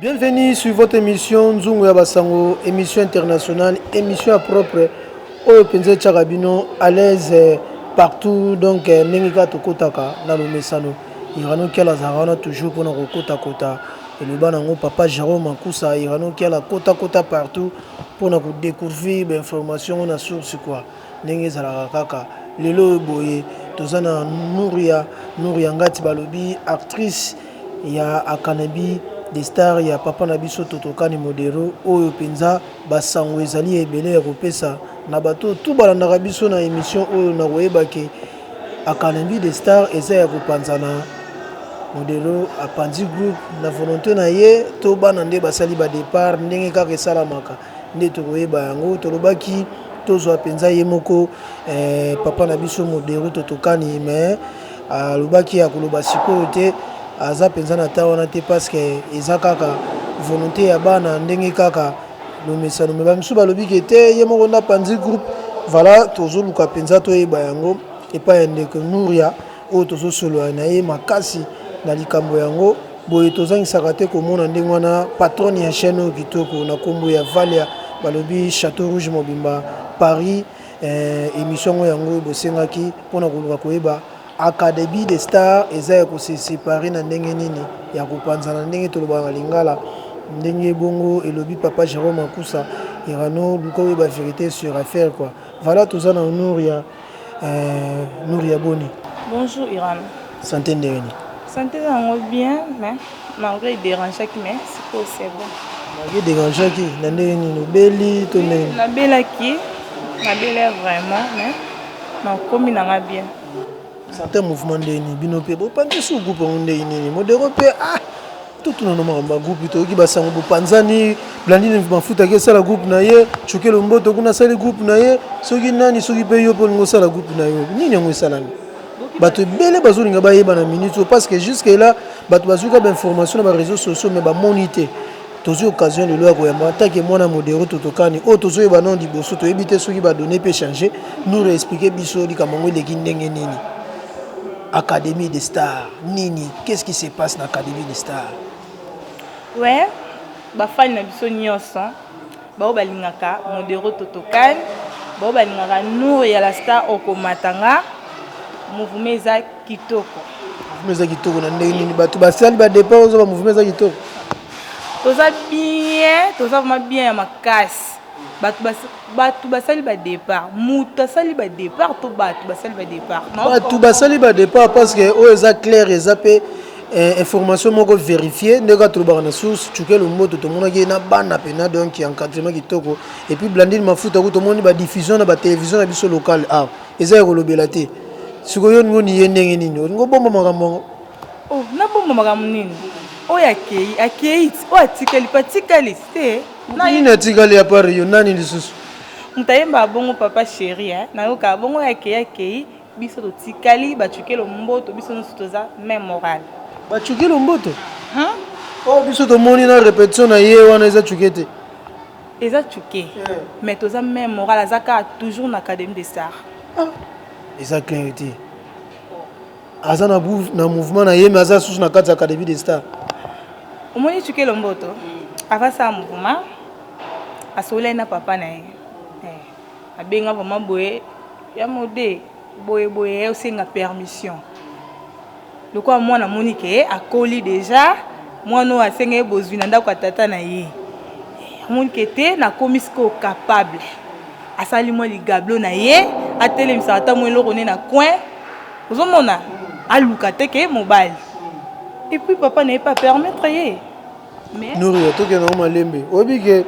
Bienvenue sur votre émission Nzungu ya Basango, émission internationale, émission propre oyo mpenza etyaka bino à l'aise euh, partout donc euh, ndenge kaka tokotaka na lomesano irano kiala azalaka wana toujours mpona kokotakota eloba nango papa jérôme akusa irano kiala kotakota partout mpona kodécouvrir bainformation ngo na source quoi ndenge ezalaka kaka lelo oyo boye toza na nouria nouria ngati balobi actrice ya akanabi de star ya papa na biso totokani modero oyo mpenza basango ezali ebele ya kopesa na bato tu balandaka biso na emission oyo na koyeba ke akanabi de star eza ya kopanzana modero apanzi groupe na volonte na ye to bana nde basali ba depart ndenge kaka esalamaka nde tokoyeba yango tolobaki tozwa mpenza ye moko eh, papa na biso moderu totokani mais alobaki ya koloba sikoyo te aza mpenza na ta wana te parce que eza kaka volonté ya bana ndenge kaka lomesano me bamisusu balobi ke te ye moko nde apanzi groupe voilà tozoluka mpenza toyeba yango epai ya ndeko nuria oyo tozosolola na ye makasi na likambo yango Boye tozangisaka te komona ndenge wana patronne ya chaîne oyo kitoko na kombo ya Valia balobi chateau rouge mobimba Paris eh, emission ngo yango bosengaki pona koluka koyeba academy de star eza ya ko se séparer na ndenge nini ya kopanzana ndenge tolobaka na lingala ndenge bongo elobi papa Jérôme Akusa irano luka oyeba vérité sur affaire quoi voilà toza na honor ya Euh, Nouri ya boni? Bonjour Iran. Santé ndenge nini? Santé na yango bien mais malgré iderangeaki mais sikoyo c'est bon. Malgré iderangeaki na ndenge nini? Obeli to ndenge nini? Nabelaki, nabelai vraiment mais nakomi na nga bien. Santé mouvement ndenge nini? Bino mpe bopanzi suku mpo ndenge nini? Modero mpe ah! totuna no makambo ya groupe toyoki basango bopanzani blandine mafuta ake esala groupe na ye cukelo mboto kuna asali groupe na ye soki nani soki mpe yo mpe olingi osala groupe na yo nini yango esalami bato ebele bazolinga bayeba na minute oyo parce que jusque là bato bazwi ka bainformation na bareseau sociaux mais bamoni te tozwi occasion lelo ya koyamba atake mwana modero totokani oyo tozoyeba nao liboso toyebi te soki badonne mpe change nous reexplike biso likambo yango eleki ndenge nini académie de star Nini qu'est ce qui se passe na academie de star? Ouais ba fans na biso nioso bao balingaka modero totokan bao balingaka nour ya la star okomata nga mouvement eza kitoko mouvement eza kitoko na ndenge nini bato basali ba départ ozoba mouvement eza kitoko toza bien toza vraiment bien ya makasi Bato bas, bato basali ba depart. Moto asali ba depart to bato basali ba depart. Bato basali ba depart parce que oyo eza clair eza pe eh, information moko verifie ndenge kaka tolobaka na source chuke lomboto tomonaki ye na bana mpena donc ya encadrement kitoko et puis blandine mafuta ku tomoni badiffusion na batelevision na biso locale awa ah, eza ya kolobela te sikoyo olingi oni ye ndenge nini olingi obomba makambo yango oh, nabomba makambo nini oyo akei akei oyo atikali mpe atikali te Mutu nini atikali a part yo nani lisusu? Mutu ayemba abongo papa chéri hein nayoka abongo ya keya keyi biso totikali ba chukelo mboto biso nionso toza même morale. Ba chukelo mboto? Hum? Oh biso tomoni na repetition na ye wana eza chuke te. Eza chuke yeah. mais toza même morale aza kaka toujours na académie des arts. Ah. Eza clair te. aza na, na mouvement na ye mais aza susu na kati ya académie des stars omoni chuke lomboto avant ça mouvement asololaki na papa na ye eh, abenga vraiment boye ya mode boye boye ye osenga permission lokola mwana amoni ke akoli deja mwana oyo asenga ye bozwi na ndako ya tata na ye amoni ke te nakomi sikoyo capable asali mwa ligablo na ye atelemisaka ntango eloko ne na coin ozomona aluka te ke mobali et puis papa na ye pas permettre ye noria tokenda ngo malembe oyebi ke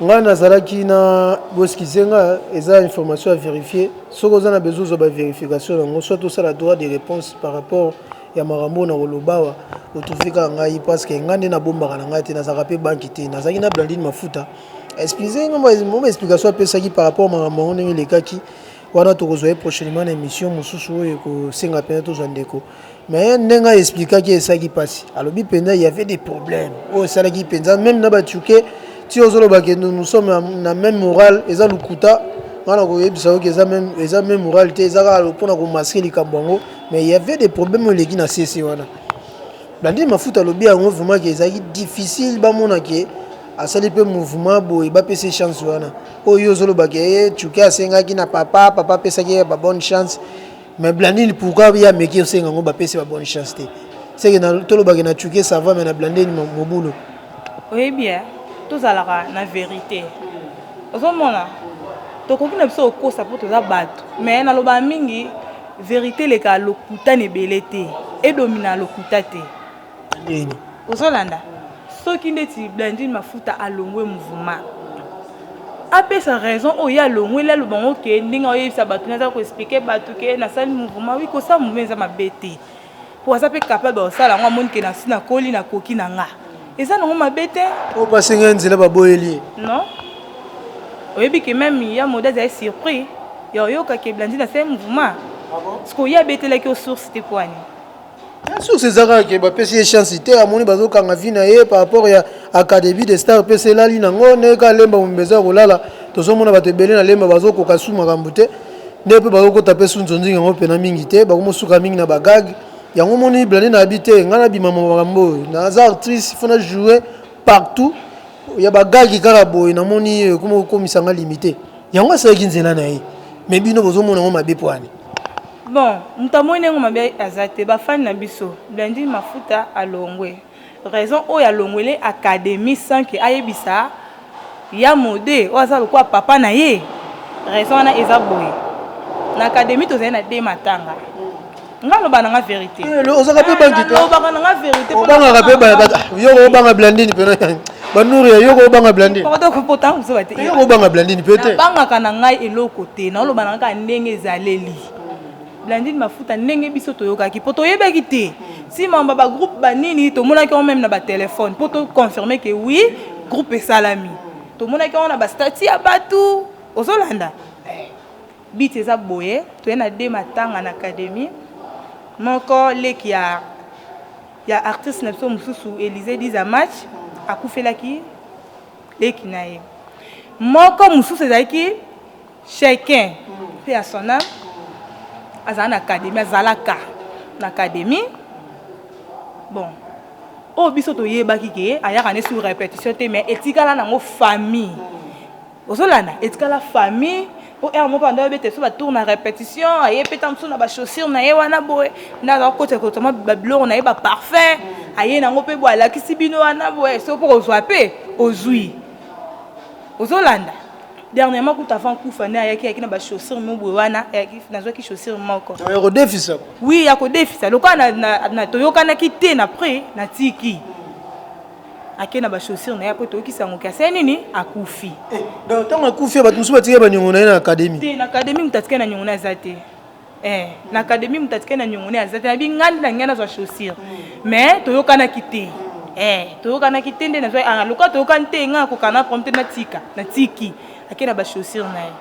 ngai nazalaki na boskize nga eza information ya verifie soki oza na besoin ozwa baverification yango soit osala droit de réponse par rapport ya makambo oyo nakolobawa otrouve kaka ngai parce que ngai nde nabombaka na ngai te nazalaka mpe banki te nazalaki na blandine mafuta explique moma explication apesaki par rapport makambo yango ndenge elekaki Wana tokozwa ye prochainement na emission mosusu oyo ekosenga mpenza tozwa ndeko mais ndenge a expliquaki esalaki mpasi alobi mpenza il y avait des problèmes oyo esalaki mpenza meme na batuke ti ozoloba ke nous sommes na même morale eza lokuta wana koyebisa yoki eza meme eza meme morale te eza kaka mpona komaske likambo yango mais il y avait des problèmes oyo eleki na sese wana blandine mafuta alobi yango vraiment ke ezalaki difficile bamona ke asali mpe mouvement boye bapesa chance wana oyo ozoloba ke eh, chuke asengaki na papa papa apesaki ye ba bonne chance mais blandine pourquoi ye ameki osenga yango bapesi ba bonne chance te seke tolobaki na chuke sava me na blandine mobulu oyebi ye eh, tozalaka na verité ozomona tokoki na biso kokosa mpo toza bato mais nalobaka mingi verité eleka lokuta na ebele te edomina lokuta te ozolanda soki ndeti blandine mafuta alongwe mouvement apesa raison oyo ye alongweli aloba yango ke ndenge aoyebisa bato nde aza koexplike bato ke nasali mouvement wi kosala mouvement eza mabe te mpo aza mpe capable kosala yango amoni ke nasi nakoli nakoki na nga eza nango mabe te oyo mpasi ngai nzela baboyeli non oyebi ke meme ya moda azali surpris ya oyoka ke blandine asali mouvement ah sikoyo ye abetelaki yo source te mpo ani Bien sûr c'est Zara qui ba pesi chance te amoni bazo kanga vie na ye par rapport ya académie des stars pe c'est lali nango ne ka lemba mumbeza kolala tozo mona bato ebele na lemba bazo koka su makambo te nde pe bazo kota pe su nzonzinga ngo pena mingi te bako mosuka mingi na bagag yango moni blane na abi te ngai nabima makambo oyo naza actrice fona jouer partout ya bagagi kaka boye namoni ekomi kokomisa ngai limite yango asalaki nzela na ye mais bino bozomona yango mabe poani Bon mutu amoni ndenge mabe aza te ba fan na biso blandine mafuta alongwe raison oyo alongwele academie sans que ayebisa ya mode oyo aza lokola papa na ye raison wana eza boye na academie tozali na de matanga nga loba na nga verite ozaka pe bangi te obangaka pe ba yo obanga blandine pena banuri ya yoko obanga blandine yoko obanga blandine mpe te bangaka na ngai eloko te naoloba na kaka ndenge ezaleli blandine mafuta ndenge biso toyokaki mpo toyebaki te nsima ba bagroupe banini tomonaki yango meme na batelefone mpo toconfirme ke wi groupe esalami tomonaki yango na bastati ya bato ozolanda biti eza boye toye na de matanga na académie moko leki ya Ya artiste na biso mususu Elise Diza Match akufelaki leki na ye moko mususu ezalaki Chacun pe à son âme azala na académie azalaka na académie bon oyo biso toyebaki ke ayaka nde sur répétition te mais etikala nango famille Ozo landa etikala famille po heure moko ando abeta biso ba tour na repetition aye pe tango mosusu na ba chaussure na ye wana boye nde aza kokota kota mwa ba biloko na ye ba parfum aye nango pe boye alakisi bino wana boye soki mpo kozwa pe ozwi ozolanda dernièrement kutu avant kufa nde ayaki ayaki na ba chaussure mo boye wana nazwaki chaussure moko ya kodefisa oui ya kodefisa lokola toyokanaki te na prix natiki ake na bachaussure na ye akoto oyokisa yango kasi ye nini akufi eh, donc ntango akufi bato mosusu batika baniongo na ye na akademi te na akademi moto atika na niongo na aza te eh, na akademi moto atika na niongo na ye aza te nabi ngai nde na ngai nazwa chaussure mais toyokanaki te eh, toyokanaki te nde nazwa ah, lokola toyokani te ngai akokana promte natika natiki ake na bachaussure na ye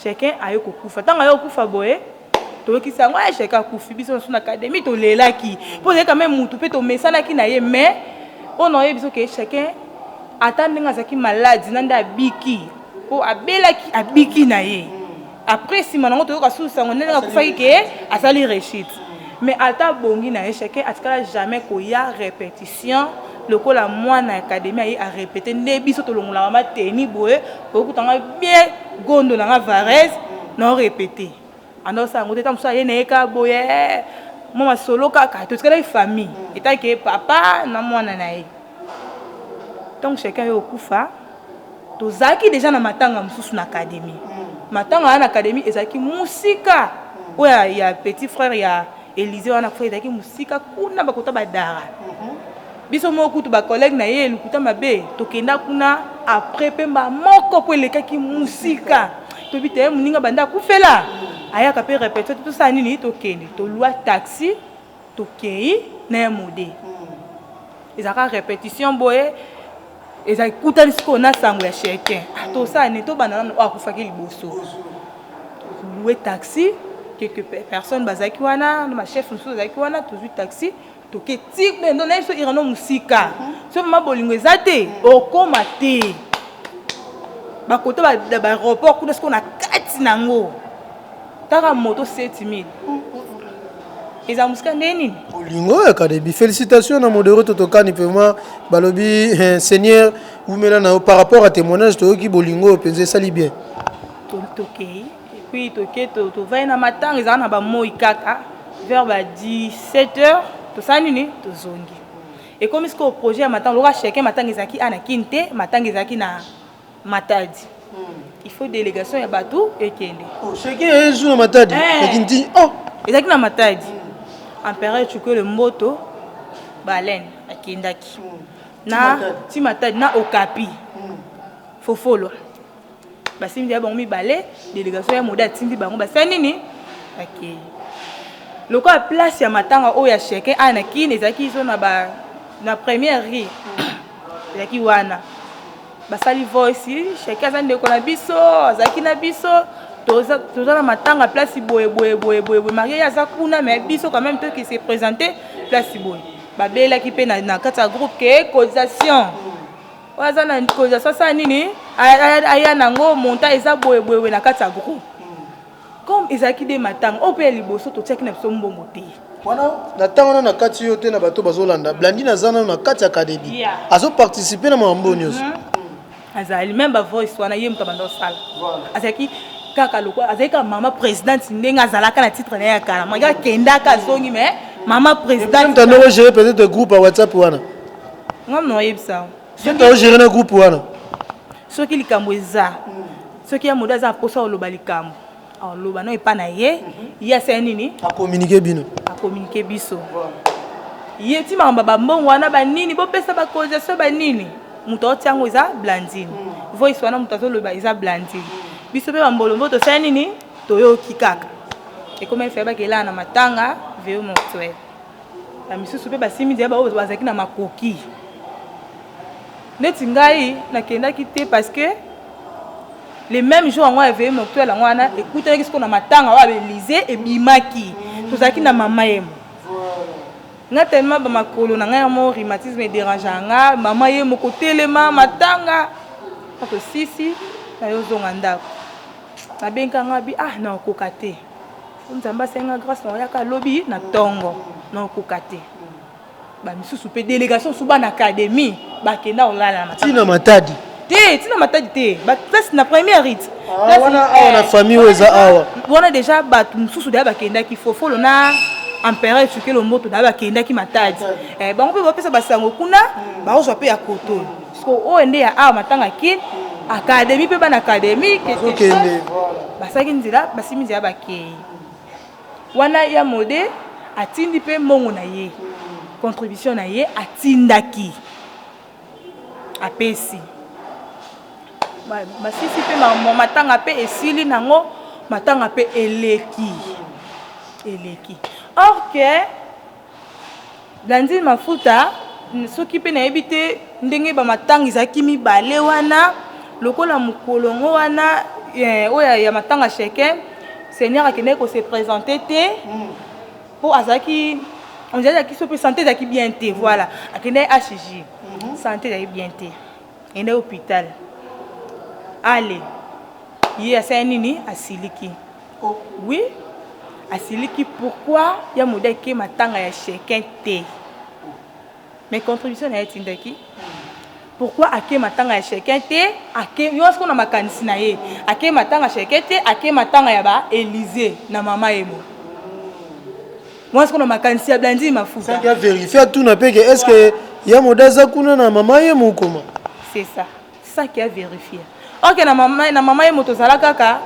Chacun aye kokufa tango aye kokufa boye toyokisi yango eh, chacun akufi biso nasu na académie tolelaki mpo ezali quand même mutu mpe tomesanaki na ye mais oyo na oyebi biso ke chacun ata ndenge azalaki malade na nde abiki mpo abelaki abiki na ye après nsima nango toyoka susu sango ndenge akufaki ke asali rechite mais ata abongi na ye chacun atikala jamais koya répétition lokola mwana ya académie aye arépéte nde biso tolongolaka mateni boye okuta nga bien gondo na nga varese na orepete anda osala yango te ta mosusu aye na ye kaka boye mwa masolo kaka totikalaki famille etake papa na mwana na ye ntango chacun yo okufa tozalaki deja na matanga mosusu na académie matanga wana na académie ezalaki mosika oyo ya petit frère ya Elysee wana kufa ezalaki mosika kuna bakota badara mhm. biso moko kutu bacollègue na ye elukuta mabe tokenda kuna après mpe mbala moko mpo elekaki mosika toyebi te moninga banda akufela ayaka mpe repetition te tosala nini tokende tolwa taxi tokei na ya mode mhm. ezalaka repetition boye eza ekutani sikoyo na sango ya chacun ah, tosala nini tobanda nano oyo oh, akufaki liboso loue taxi quelque personne bazalaki wana na bachef mosusu azalaki wana tozwi taxi toke ti bendo na biso irano mosika so mama bolingo eza te okoma te bakota bareauport kuna sikoyo na kati na yango Kaka moto 7000. Eza musika nde nini? Olingo ya kadebi. Félicitations na modero totokani vraiment balobi eh, Seigneur wumela na par rapport à témoignage toyoki bolingo penza esali bien. Tokei. Puis toke to to vai na matanga eza na ba moi kaka vers ba 17h tosali nini? Tozongi. Ekomi sikoyo projet ya matanga lokola chacun matanga ezalaki ana kin te matanga ezalaki na Matadi. Il faut délégation ya bato ekende. Oh, chacun a un jour na Matadi. Eh. Lakini ti oh. Ezalaki na Matadi. Empereur Chukele Mboto baleine akendaki. Na ti Matadi na Okapi. Fofolo. Basimbi ya bango mibale, délégation ya Moda atindi bango basala nini? Akei. Lokola place ya matanga oyo ya chacun aya na Kin ezalaki izo na ba na première rue. Ezalaki wana. Basali voice shaki aza ndeko na biso azalaki na biso toza toza na matanga place boye boye boye boye boye marie aza kuna mais biso quand même toki se présenter place boye babelaki mpe na, na kati ya groupe ke cotisation oyo aza na cotisation asala nini aya nango montant eza boye boye boye na kati ya groupe Comme ezalaki nde matanga oyo mpe ya liboso, totiaki na biso mbongo te. Wana na tango wana na kati yo te na bato bazo landa blandine aza nanu na kati ya cadedi azo participe na makambo oyo nioso azali meme ba voice wana ye moto abanda osala azalaki kaka lokola azalaki kaka mama presidente ndenge azalaka na titre na ye ya kala maki akendaka azongi mais mama presidente ntanda ogere peut-être groupe ya whatsapp wana nga mna oyebisa ntanda ogere na groupe wana soki likambo eza Soki ya moda aza na posa oloba likambo aloba no epa na ye ye asala nini akominike bino akominike biso ye ti makambo bambongo wana banini bopesa bacausation banini moto aotia yango eza blandine mm. voice wana moto azoloba eza blandine biso mpe bambolombo tosala nini toyoki kaka ekomi efe bakelaa na matanga veo mortuel bamisusu mpe basimbi nzela bazalaki na makoki neti ngai nakendaki te parce que le même jour yango aveye moktuel yango wana ekutanaki sikoyo na matanga oyo abelize ebimaki tozalaki na mama yemo nga telema bamakolo na ngai yamo rhumatisme ederangeaka nga mama ye moko telema matanga atosisi nayozonga ndako nabengaka nga bi ah naokoka te nzambe asenga grâce naoyaka lobi na tongo naokoka te ba misusu pe delegation su bana academy bakenda olala na tina matadi te tina matadi te ba place na première rite ah, wana awa eh, na famille oyo eza awa wana déjà bato mosusu deya bakendaki fofolo na empereur ecukelo mboto deya bakendaki matadi eh, bango mpe bapesa basango kuna hmm. bakozwa mpe ya koto siko oyo nde ya awa matanga kin akademi mpe bana akademi basalaki nzela basimi nzela bakei Wana ya mode atindi pe mbongo na ye contribution na ye atindaki apesi masisi pe matanga pe esili nango matanga pe eleki eleki or que Blandine Mafuta soki pe nayebi te ndenge ba matanga ezalaki mibale wana lokola mokolo yango wana eh, oyo ya matanga sheke seigneur akendaki ko se presenter te po azalaki on dirait azalaki sope sante ezalaki bien te voilà akendaki HJ sante ezalaki bien te akendaki hopital ale ye asali nini asiliki Oui asiliki pourquoi ya moda eke matanga ya chacun te mais contribution na ye atindaki pourquoi ake matanga ya chacun te ake yo siko na makanisi na ye ake matanga chacun te ake matanga ya ba Elysee na mama emo moi siko na makanisi ya Blandine Mafuta saki ya verifia tuna peke est-ce que ya moda aza kuna na mama ye mokoma c'est ça saki a verifier ok na mama na mama ye moto ozala kaka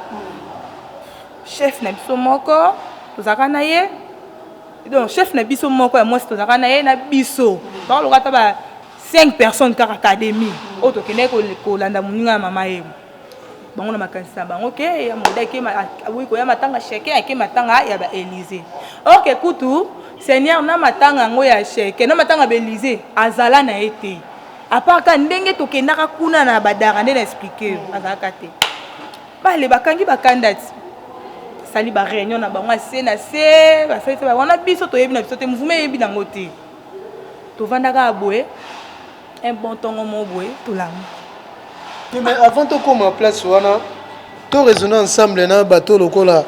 chef na biso moko tozalaka na ye donc chef na biso moko ya mwasi tozalaka na ye na biso bakoloka ata ba 5 personnes kaka académie oyo tokendaki kolanda moninga ya mama ye bango na makanisi na bango ke ya moda ke aboyi koya matanga cheke ake matanga ya ba élysée ok kutu seigneur na matanga yango ya cheke na matanga ba élysée azala na ye te apart ka ndenge tokendaka kuna na badara nde na explike yo azalaka te bale bakangi bakanda ti basali ba réunion na bango ase na se basali se wana biso toyebi na biso te mouvement eyebi nango te tovandaka aboye un bon ntongo moko boye tolamu mais avant tokoma place wana to raisonne ensemble na bato lokola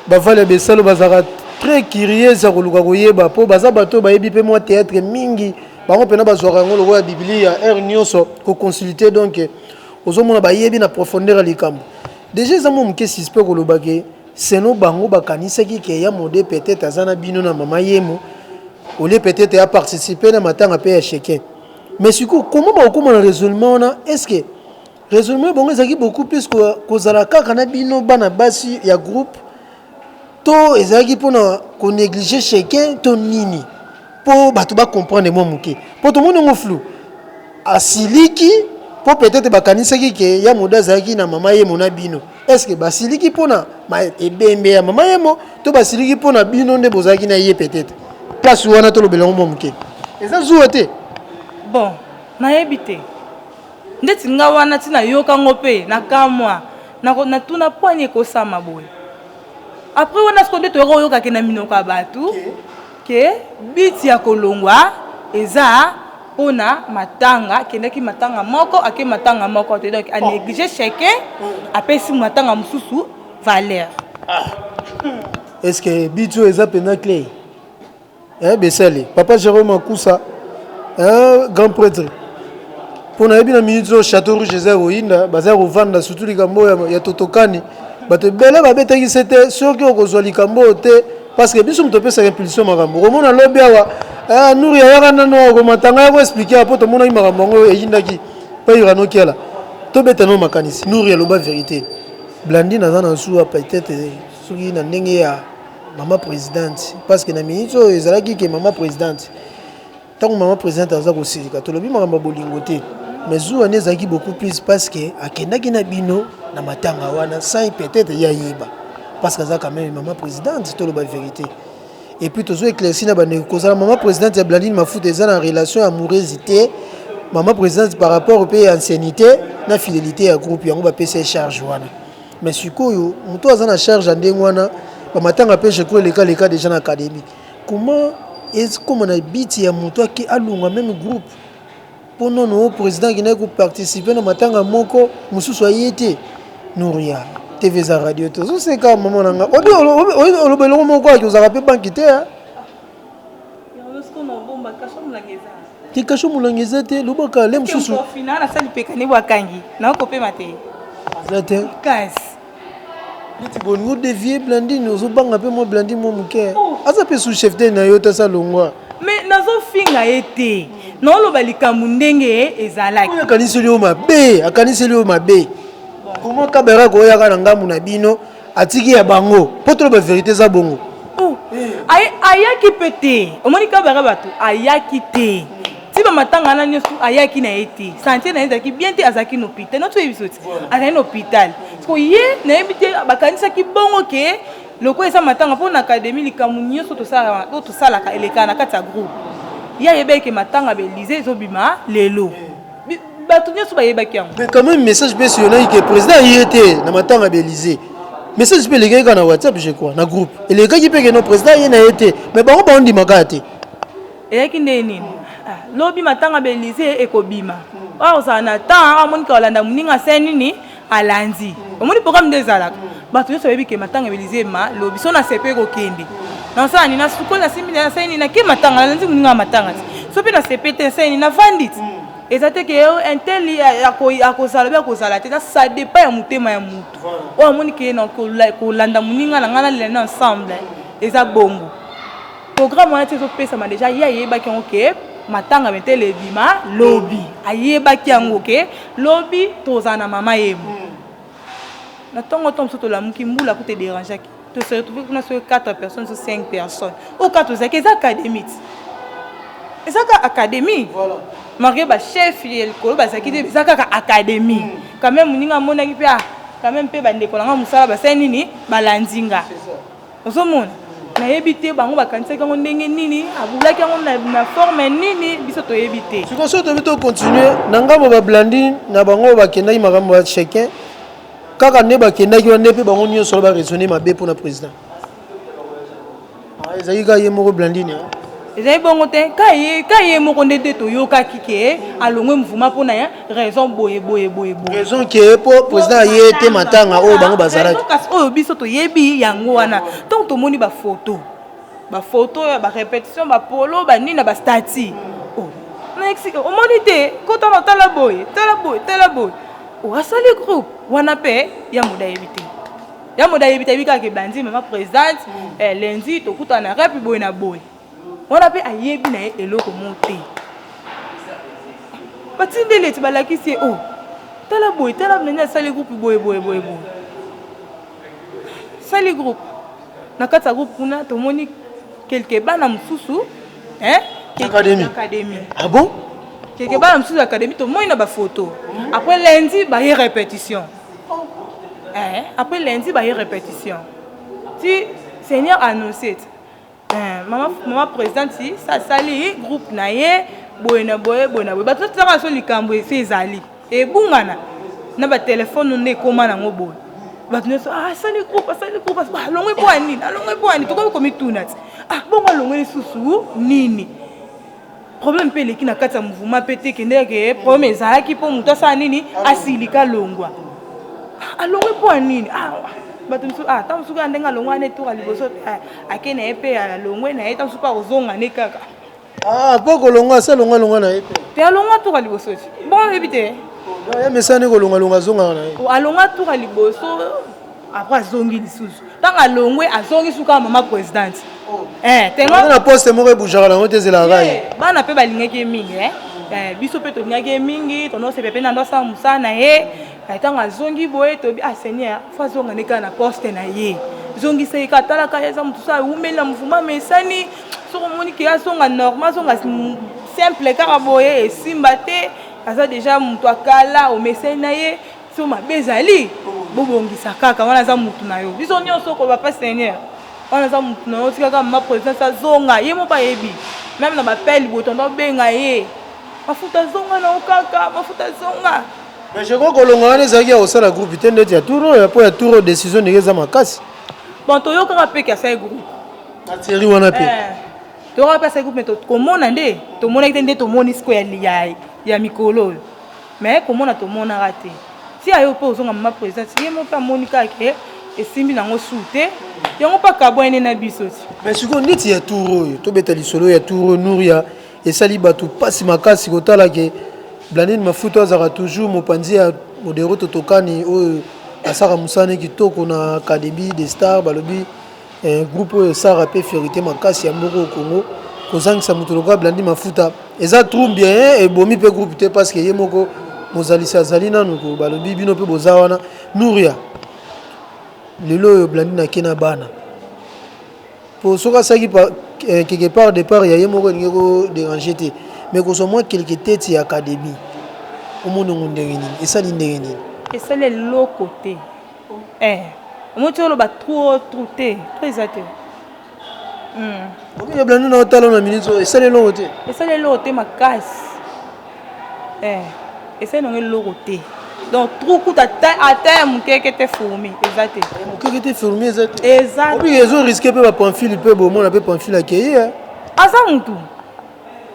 bavale ya besalo bazalaka très curieuse ya koluka koyeba mpo baza bato oyo bayebi mpe mwa théâtre mingi bango mpena bazwaka yango lokola biblia heure nyonso koconsulte donc ozomona bayebi na profondeur ya likambo deja eza mwa moke suspect koloba ke seno bango bakanisaki ke ya mode peut-être aza na bino na mama yemo olie peut-être ya participer na matanga mpe ya cheke mais sikoyo koma bakokoma na raisonnement wana est ce que raisonnement bango ezalaki beaucoup plus kozala kaka na bino bana basi ya groupe to ezalaki mpo na koneglige chacun to nini mpo bato bacomprendre mwa moke mpo tomoni yango flou asiliki mpo peut-être bakanisaki ke ya moda azalaki na mama yemo na bino est ce que basiliki mpo na ebembe ya mama yemo to basiliki mpo na bino nde bozalaki na ye peut-être place wana tolobela yango mwa moke eza zuwa te bon nayebi te Ndeti nga wana ti na yoka ngo pe na kamwa na ko na tuna pwani ekosama boye après wana siko nde toyaka oyoka ke na minoko ya batu ke biti ya kolongwa eza pona matanga akendaki matanga moko ake matanga moko te donc a oh. néglige cheke apesi matanga mosusu valeur ah. est ce que bitio eza pena cle Eh Besele, papa Jerome Akusa, eh grand pretre. Mpo nayebi na minute oyo chateau rouge eza ya koyinda, baza ya kovanda surtout likambo oyo ya totokani. Bato ebele babetaki se te soki okozwa likambo oyo te parce que biso moto opesaka impulsion makambo. Okomona lobi awa, eh Nuri ayaka nano awa komatanga ya koexpliquer awa mpo tomonaki makambo yango eyindaki mpe Irano Kiala. Tobeta no makanisi, Nuri aloba verite. Blandine aza na zuwa peut-être soki na ndenge ya Maman presidente parce que na minute oyo ezalaki ke maman presidente ntango maman presidente aza kosilika tolobi makambo ya bolingo te mais zuwa nde ezalaki beaucoup plus parce que akendaki na bino na matanga wana sans peut-être ye ayeba parce que aza quand même maman presidente toloba vérité et puis tozo éclairci na bandeko kozala maman presidente ya blandine mafuta eza na relation amoureuse te maman presidente par rapport mpe ya anciennité na fidélité ya groupe yango bapesi ye charge wana Mais sikoyo mutu aza na charge ya ndenge wana ba matanga pe je crois eleka leka dejà na academie comment ekoma na but ya mutu ake alonga meme groupe po nono president akendaki ko participer na matanga moko mosusu aye te Nouria TV eza radio te ozoseka mama na nga obi olobelongo moko aki ozalaka pe banki te te kasho molangi eza te lobaka le mosusu eza te neti bolingi odevie blandine ozobanga mpe mwa blandine mwa moke oh. aza mpe sous chef te na yo tasa longwa mais nazofinga ye te naoloba likambo ndenge ezalaki akaniseli yo mabe akaniseli yo mabe comment kaberaka oyaka na ngambo na bino atiki ya bango po toloba verité eza bongo oh, ayaki mpe te omoni kabaka bato ayaki te ti bamatanga wana nyonso ayaki na ye te santie na ye ezalaki bien te azalaki na hôpital notoyebi biso ti azalaki na hôpital siko ye nayebi te bakanisaki bongo ke lokola eza matanga mpo na akademi likambo nyonso oyo tosalaka elekaka na kati ya groupe ye ayebaki ke matanga belize ezobima lelo bato nyonso bayebaki yango mais quand même message mpe esiyonaki ke président aye te na matanga ya belize message mpe elekaki kaka na whatsapp je crois na groupe elekaki mpe ke no président aye na ye te mais bango baondima kaka te eyaki ndenge nini ah, lobi matanga belize ekobima awa ozala na temps awa monika olanda moninga se nini alandi omoni programme nde ezalaka bato nyonso bayebi ke matanga ebelize ma lobi so na sepe kokende nasala nini nasukoli nasimbi na nasali nini nake matanga nalanzi moninga ya matanga ti so mpe na sepe te nasali nini navandi ti mm. eza te ke oh, intel akozala obe akozala te eza sa depa ya motema ya motu oyo amoni ke na kolanda moninga na ngai nalela na ensemble eza bongo Programme wana ti ezo pesama deja ye ayebaki yango ke matanga metele ebima lobi ayebaki yango ke lobi tozala na mama yemo hmm. na ntongo ntongo mosusu tolamuki mbula kuta ederangeaki tose retrouve kuna soki 4 personnes so 5 personnes oyo kaka tozalaki eza académie eza kaka académie malgré bachef ya likolo bazalaki te eza kaka académie hmm. quand même moninga amonaki mpe ah, quand même mpe bandeko na ngai mosala basali nini balandi nga Ozomona? Nayebi te bango bakanisaki yango ndenge nini, abulaki yango na, na forme nini, biso toyebi te. Siko soki toyebi to continuer na ngambo ba blandi na bango bakendaki makambo ya chacun kaka nde bakendaki wana mpe bango nyonso ba raisonner mabe mpo na président. Ah, ezalaki kaka ye moko blandine hein? ezali bongo te ka ye moko nde te toyokaki ke alongwe mvuma mpo na raison boye boye boye boye raison ke po président ye te matanga oyo bango bazalaki kasi oyo biso toyebi yango wana ntango tomoni bafoto bafoto ya barépétition bapolo banini na bastati oh, omoni te kota na tala boye tala boye tala boye oh, asali groupe wana mpe ya moda yebi te ya moda yebi te yebi kaka ebandi mama présidente eh, lendi tokutana rapi boye na boye wana pe ayebi na ye eloko moko te batindeli ete balakisi ye o oh, tala boye tala nani asali groupe boye boye boye boye sali groupe na kati ya groupe kuna tomoni kelke bana mosusu académie ah bon kelke bana mosusu ya académie tomoni na bafoto après lundi baye répétition eh, après lundi baye répétition ti seigneur annoncete Eh, mama, mama presidente sa asali groupe na ye boye na boye boye na boye bato totaka so likambo esi ezali ebungana na batelefone nde ekóma nango boye bato nyonso ah, asali groupe asali groupe alongwe mpo ya nini alongwe mpo ya nini tokomi komituna ti ah bongo alongwe lisusu nini problème mpe eleki na kati ya mouvement mpe te kende yake eh, problème ezalaki mpo moto asala nini asilika alongwa ah, alongwe mpo ya nini ah, bato mosusu ah, ntango mosusu ya ndenge alongwa ne tour ya liboso eh, ake na ye mpe alongwe na ye ntango mosusu mpe akozonga ne kaka mpo ah, kolongwa ase alongwa alongwa na ye mpe te alongwa tour ya liboso ti bon oyebi te ye mesani kolongalonga azongaka na ye alongwa tour ya liboso après azongi lisusu ntango alongwe azongi suka mama presidente oh. eh, na poste moko ebujaka nango te ezelaka ye eh, bana mpe balingaki ye mingi eh. eh, biso mpe tolingaki ye mingi tonosepela mpe nando asala mosala na ye ntango azongi boye tobi ah seigneur fo azonga nde kaka na poste na ye zongisa ye kaka talaka ye eza motu so awumeli na mvuma mesani soki omoni ke azonga normal azonga simple kaka boye esimba te aza deja motu akala omesani na ye so mabe ezali bobongisa kaka wana aza mutu na yo biso nyonso okoba pa seigneur wana aza mutu na yo tikaka mama presidence azonga ye moko ayebi meme na bapele liboto ndo obenga ye mafuta azonga na yo kaka mafuta azonga mais je crois kolonga wana ezalaki ya kosala groupe te ndeti ya tour oyo mpo ya tour oyo décision ndenge eza makasi bon toyokaka mpe ke asali groupe ateri wana mpe eh, toyokaka mpe asali groupe me tokomona nde tomonaki te nde tomoni siko ya mikolo oyo Mais komona tomonaka te. Tia yo pe ozonga maman presidente ye moko pe amoni kaka ke esimbi nango sou te yango pe akabwani nde na biso ti. Mais sikoyo neti ya tour oyo tobeta lisolo ya tour oyo Nouria esali batu pasi makasi kotala ke Blandine Mafuta azaka toujours mopanzi ya Modero Totokani oyo asaka musala ne kitoko na academie de star balobi Eh groupe oyo Sarah pe ferite makasi ya mboko au Congo kozangisa moto lokola blandi mafuta eza trou bien hein, ebomi pe groupe te parce que ye moko mozalisi azali nanu ko balobi bino pe boza wana Nouria lelo oyo blandi na kena bana po soki asaki eh, quelque part départ ya ye moko elingi ko déranger te mais kozwa mwa quelque tete ya académie omonongo ndenge nini esali ndenge nini esali eloko te Eh, omoni ti oloba trop trop te trop eza te omi eblandi na otala na minute oyo esali eloko te esali eloko te makasi eh, esali nango eloko te donc trou kuta ata ya mokeke te fourmi eza te mokeke te fourmi eza te eza obi ezo riske mpe bapamfile mpe bomona mpe pamfile akeye aza motu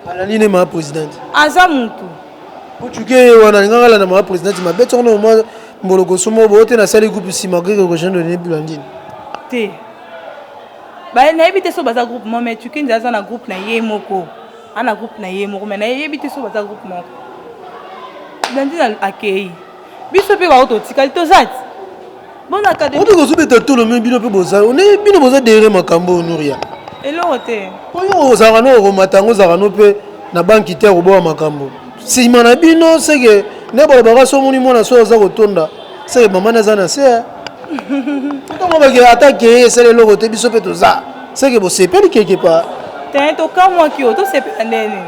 Alandi nde ma presidente. Aza mutu. Ocuke ye wana alingaka alanda ma presidente mabe toko na mwa mbolokoso moko boye te nasali groupe nsima oke kokoshan done blandine. Te. Ba nayebi te so baza groupe moko mais cuke nde aza na groupe na ye moko. Ana groupe na ye moko mais nayebi te so baza groupe moko. Blandine akeyi. biso mpe baoyo totikali toza ti obi kozobeta tolo me bino mpe boza bino boza dere makambo oyo nuria eloko te oyo ozalaka no okomata yango ozalaka no mpe na banki te akoboya makambo nsima na bino seke nde balobaka so omoni mwana so aza kotonda seke mamani aza na se eh. ntango bakela ata keye esala eloko te biso mpe toza seke bosepeli keke pa te tokamwaki yo tosepela ndeni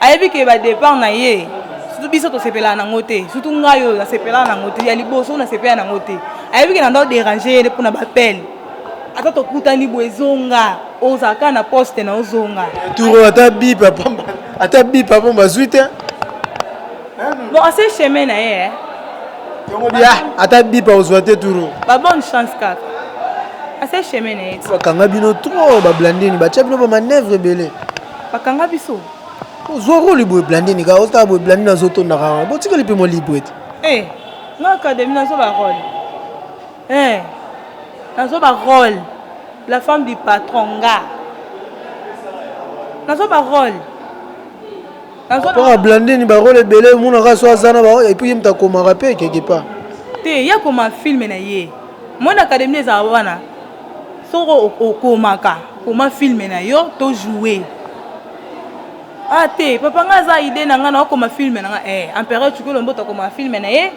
Ayebi ke ba depart na ye surtout biso tosepelaka nango te surtout ngai oyo nasepelaka nango te ya liboso nasepela nango te ayebi ke nanda oderange ye mpo na bapele ata tokutani boye ezonga ozala kaka na poste na ozonga turo ata bipa pamba ata bipa mpo bazwi te bon ase chemin na ye eh. bia ata bipa ozwa te turo babonne chance kaka ase chemin na ye bakanga bino trop bablandini batya bino bamanevre ebele bakanga biso ozwa role boye blandi nika ozotala boye blandi nazotondaka yango botikali mpe mwa libre te eh, na akademi nazwa barole eh, nazwa barole la femme du patron nga nazwa barole mpona blandini barole ebele emonaka so aza na barole epuis ye moto akomaka mpe quelque part te ye akoma filme na ye mwana akademi ezala wana Soki okomaka koma film na yo to joue. Ah te papa nga aza idee na nga na okoma film na nga eh empereur Tshikolo Mboto akomaka film na ye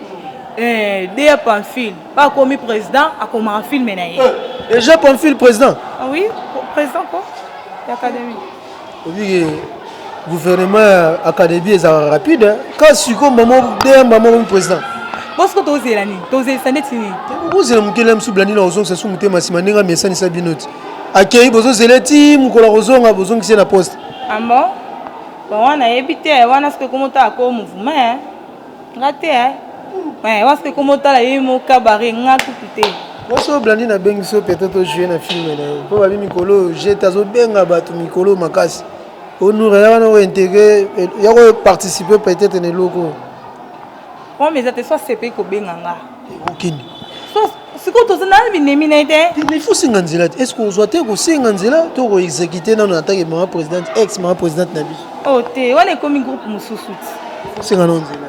eh Dea Pamphile ba akomi président akomaka film na ye. Eh, Deja Pamphile président? Ah oui, président quoi? L'académie. Obi gouvernement ya académie ezalaka rapide hein. ka siko mama deya mama omi président bosiko tozela nini tozelisa ndeti nini bozela mokeli ya mosusu blandi na kozongisa su motema nsima ndenge amesanisa bino ti akei bozozela ti mokolo ya kozonga bozongisi na poste ambo ah bango nayebi te wana soki ekomi otala ko mouvement nga te eh. eh wasi pe komo tala ye mo kabare nga kutu te wasi oyo blandi nabengi so pete tojoue na filme na yo mpo babi mikolo oyo jete azobenga bato mikolo makasi onura ya wana ointegre ya koparticipe peut-être na eloko oyo eza te so asepeli kobenga nga okende sikoyo toza na binemi na ye te mais faut senga nzela te est ce que ozwa te kosenga nzela to koexécute nano atake mama présidente ex mama présidente na biso o oh, te wana ekomi groupe mosusu ti osenga nao nzela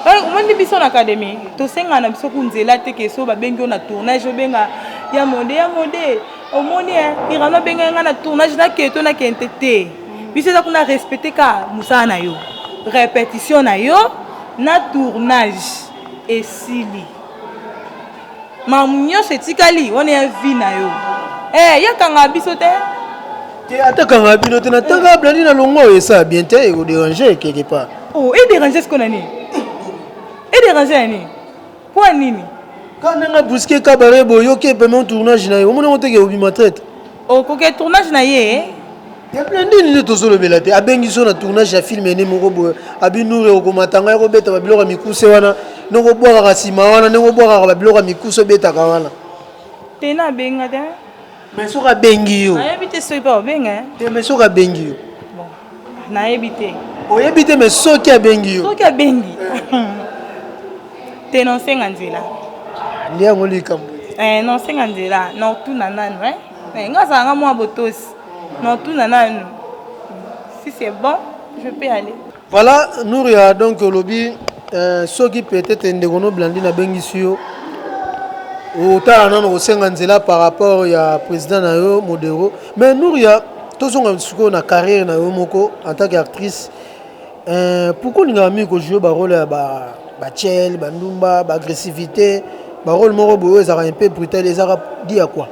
eh, omoni biso na académie tosenga na biso ku nzela te ke so babengi yo na tournage obenga ya mode ya mode omoni eh, irano abengai ngai na tournage naketo nakente te biso eza kuna respecte ka mosala na yo répétition na yo na tournage esili ma nyonso etikali wana ya vie na yo eh, yakanga biso te te atakanga bino te natanga blandi na longo oyo esala bien te ekoderange quelque part oh, ederange siko na nini ederange na nini mpo ya nini ka ndanga buske kabare boyoki epeme tournage na ye omoni yango teke obima traite okoke tournage na ye ya blende nini tozolobela te abengi so na tournage ya filme ene moko boye abi nure okomata ngai kobeta babiloko ya mikuse wana ndenge obwakaka nsima wana ndenge obwakaka babiloko ya mikuse obetaka wana te na abenga te mais soki abengi yo nayebi te soki mpe obenga eh? te mais soki abengi yo nayebi te oyebi te mais soki abengi yo soki abengi te nosenga nzela nde yango likambo eh, nosenga nzela notuna nanu eh? eh, nga azalanga mwa botosi Non, tuna nanu. Si c'est bon, je peux aller. Voilà, Nouria, donc olobi euh, soki peut-être ndeko no blandi na bengisi yo otala nano kosenga nzela par rapport ya président na yo modero mais Nouria tozonga sikoyo na carrière na yo moko en tant qu'actrice euh, pourquoi olingaka mingi kojoue barole ya ba bachel bandumba baagressivité barole moko boye oyo ezalaka mpe brutale ezalaka di ya quoi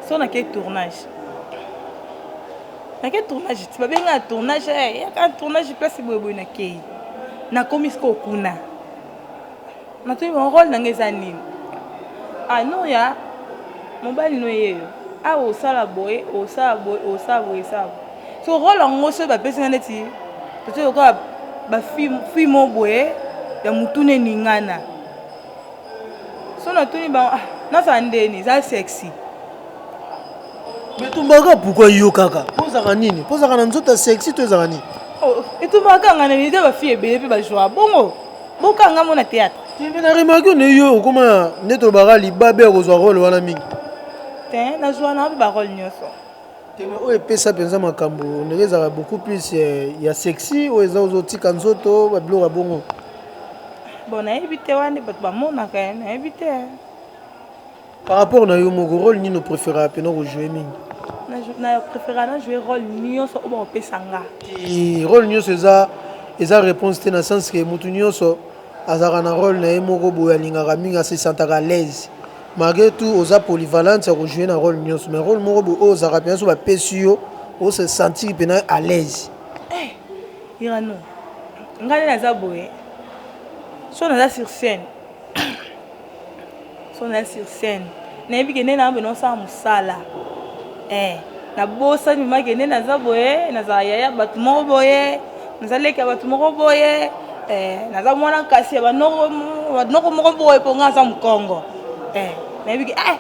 so na ke tournage nake tournage ti babenga tournage eh, yaka tournage place boyeboye nakei nakomi sikoyo kuna natoyi role na nga eza nini anoya ah, mobali no yeyo awa ah, osala boye osala boye osala boye esala boye so role yango soki bapesi nga neti totoyoka bafimo boye ya motuna eningana so natuni bango ah, nazala ndeni eza sexy etumbaka pourkoi yo kaka mpo ozalaka nini mpo ozalaka na nzoto ya sexy to ezalaka nini oh, etumbaka nga na nini eza bafille ebele mpe bajoi bongo bokanga mo na théâtre tembe na remarke one yo okoma nde tolobaka libabe ya kozwa role wana mingi te nazwa na mpe barole nyonso Teme oyo epesa penza makambu on dirait ezalaka beaucoup plus ya sexy oyo eza ozo tika nzoto ba biloko ya bongo. Bon nayebi te wana bato bamonaka ye nayebi te. Par rapport na yo moko role nini opreferaka pena kojouer mingi? Na jou- na preferaka na jouer role nyonso oyo bakopesa nga. Ti role nyonso eza eza reponse te na sens que mutu nyonso azalaka na role na ye moko boye alingaka mingi a se sentaka à l'aise. Malgre tout oza polyvalente ya ko jouer na role nionso mais role moko boye oyo ozalaka pena soki ba pesi yo o se sentir pena alaise. Eh Irano ngai nde naza boye soki naza sur scène soki naza sur scène nayebi ke nde naza pena osala mosala eh nabosani mama kende naza boye nazala yaya bato moko boye naza leki ya bato moko boye eh, naza mwana kasi ya banoko moko boye mpo nga aza mokongo eh, nayebiki eh,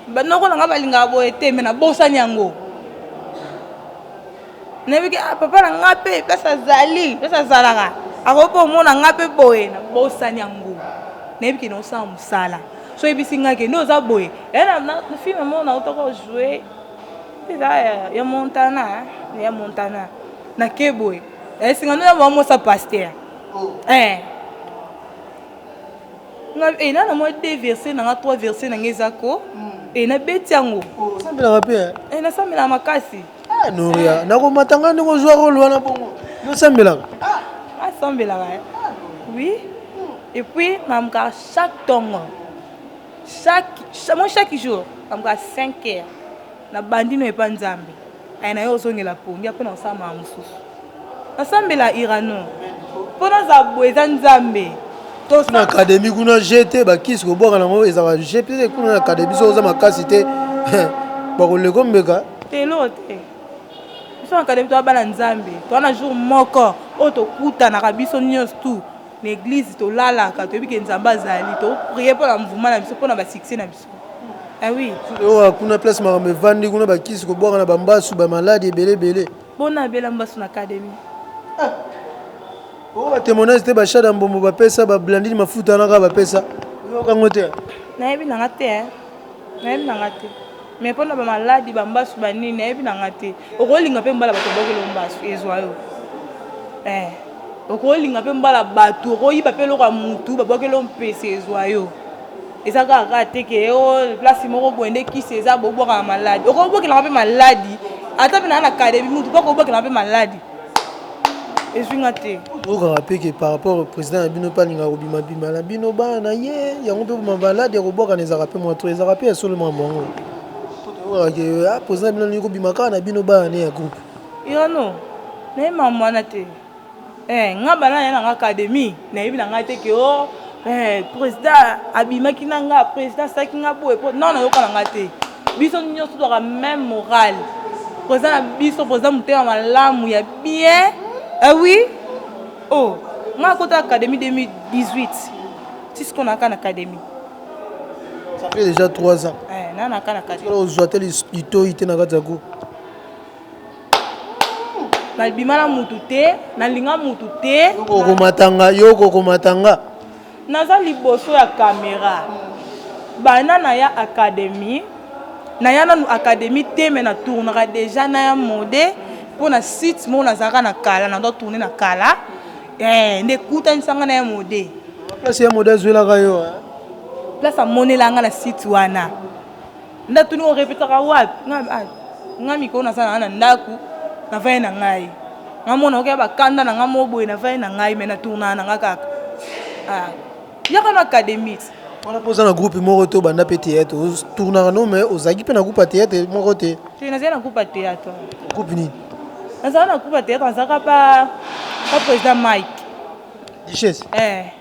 banoko na nga balingaka boye te me nabosani yango nayebi ke ah, papa na nga mpe place azali place azalaka akoki mpe omona nga mpe boye na bosani yango nayebi ke naosala mosala so oyebisi nga ke nde oza boye eh, fille na mona otoko joue eza ya montana ya montana nake boye esinga eh, nde nabaa mosa paster oh. eh. eh, na na mwa de verse nanga trois verse nanga eza ko hmm. e nabeti yango oh, nasambelaka makasi Ah Noria, nako matanga ndeko zwa role wana bongo. Yo sambelaka? Ah, ah sambelaka. Eh. Oui. Et puis mamka chaque tongo. Chaque moi chaque jour, mamka 5 heures. Na bandino epa Nzambe. Aye na yo ozongela pongi apona osama mususu. Nasambela Irano po nazala boye eza nzambe. Kuna academie kuna je te ba kisi ko bwaka nango ezala je te kuna academie so oza makasi te ba ko leko mbeka. Te eloko te. Biso na academie toza bana nzambe. Toza na jour moko oyo tokutanaka biso nionso tout na eglise tolalaka toyebi ke nzambe azali to prier pona mouvement na biso pona ba succès na biso. Ah oui. Kuna place makambo evandi kuna ba kisi ko bwaka na ba mbasu ba maladi ebele ebele. Pona abela mbasu na academy. Ah. Oyo ba témoignage te ba shada mbombo ba pesa ba blandine mafuta na ka ba pesa. Yo kango te. Nayebi na nga te. Eh. Nayebi na nga te. Mais pona ba maladi ba mbasu ba nini nayebi na nga te. Okolinga pe mbala bato bokelo mbasu ezwa yo. Eh. Okolinga pe mbala bato okoyiba pe loka mutu babwakelo mpese ezwa yo. Eza kaka kaka te ke o oh, place moko boye nde kisi eza bobwaka na maladi. Okobwakelaka mpe maladi ata mpe na na academy mutu mpe okobwakelaka mpe maladi. Ezwi nga te. Okaka mpe ke par rapport au président ya bino mpe alingaka kobima bima na bino bana na ye yango mpe boma maladi ya kobwakana ezalaka mpe mwa to ezalaka mpe ya solo makambo yango. Okaka ke ah, président ya bino alingi kobima kaka na bino bana ne ya groupe. Yo no, naye makambo wana te. Eh nga banda naye nanga academie nayebi na nga te ke oh eh president abimaki na nga president asalaki nga boye po non nayoka na nga te biso nyonso tozwaka meme morale president na biso president motema malamu ya bien eh oui oh nga akota academie 2018 tisko na ka na academie ça fait déjà 3 ans eh na na ka na academie ozwa te litoyi te na kati ya go nabima na mutu te nalinga mutu te okomatanga yo okomatanga naza liboso ya kamera bana na ya académie naya nanu académie te me na tournaka déjà na ya mode mpo na site moko nazalaka na kala na doit tourne na kala eh, nde ekutanisanga na ya mode place ya mode azwelaka yo place amonelanga na site wana Nda tuni o repetaka wapi? Nga ah nga mikolo naza na na ndaku na vandi na ngai. Nga mona okia ba kanda na nga mo boye na vandi na ngai mais na tourna na nga kaka. Ah yaka na académie. Wana poza na groupe moko to banda pe théâtre o tournaka no mais ozaki pe na groupe théâtre moko te. Te naza na groupe théâtre. Groupe nini? Naza na groupe théâtre naza ka pa pa président Mike. Duchesse? Eh.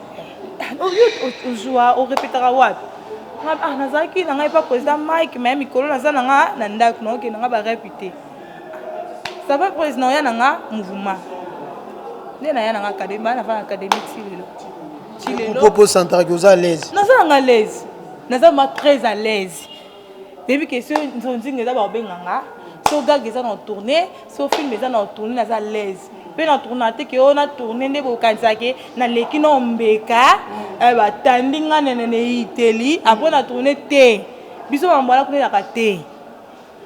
oyo ozwa orepetaka wapi ah, nazalaki na ngai epa président mike me mikolo naza na nga na ndako naokende nga barepi te sava président oya na nga mouvement nde naya na nga akademi baa nava na akademi ti lelo ti lelo propose santaki oza à l'aise naza na nga à l'aise naza ma très à l'aise Baby question nzonzinga eza babenga nga so gag eza na tourner so film eza na tourner naza à l'aise mpe na tourna te ke oyo na tourner nde bokanisaka ke naleki na ombeka eh, batandi nga nene neiteli apres na tourner te biso bambo wana kotelaka te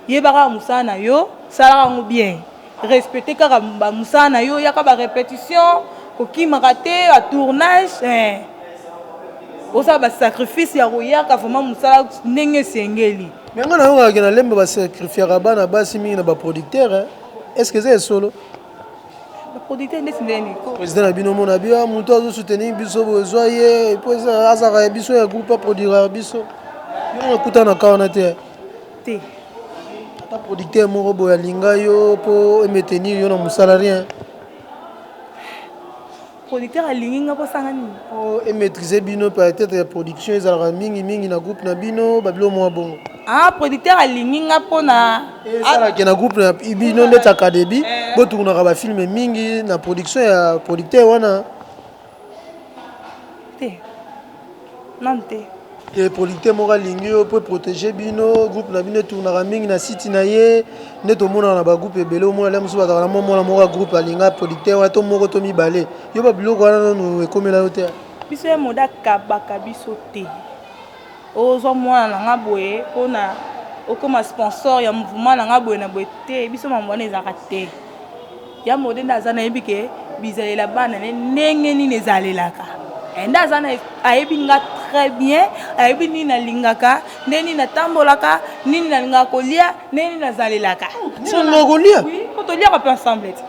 yebaka mosala na yo salaka yango bien Respecter kaka ba musala na yo yaka ba repetition kokimaka te ba tournage eh osala ba sacrifice ya koyaka vraiment musala ndenge esengeli. Mais nga nayokaka ke na lemba ba sacrifiaka bana basi mingi na ba producteur hein est ce que eza ya solo? Ba producteur ndeti ndeni ko. President na bino omona bi ah mutu azo soutenir biso boye zwa ye po azalaka ya biso ya groupe a produiraka biso bino nakutana ka wana te. te. Ata producteur moko boye alinga yo po e metenir yo na musala rien. Producteur alingi nga po asala nga nini? Po e maitriser bino peut etre ya production ezalaka mingi mingi na groupe na bino ba biloko moko ya bongo. Ah producteur alingi nga po na Esala ke na groupe na bino neti academy bo tungunaka ba film mingi na production ya producteur wana. te nanu te te producteur moko alingi yo mpo eprotege bino groupe na bino etournaka mingi na site na ye nde tomonaka na bagroupe ebele omona lia mosusu bazalaka na mwa mwana moko ya groupe alinga producteur wana to moko to mibale yo babiloko wana nanu ekomela yo te biso ya moda akabaka biso te ozwa mwana na nga boye mpo na okoma sponsor ya mouvement na nga boye na boye te biso mambo wana ezalaka te Ya mode nde aza nayebi ke bizalela bana ne ndenge nini ezalelaka eh, nde aza na ayebi nga très bien ayebi nini nalingaka nde nini natambolaka nini nalingaka kolia nde nini nazalelaka sonokolia po toliaka mpe ensemble te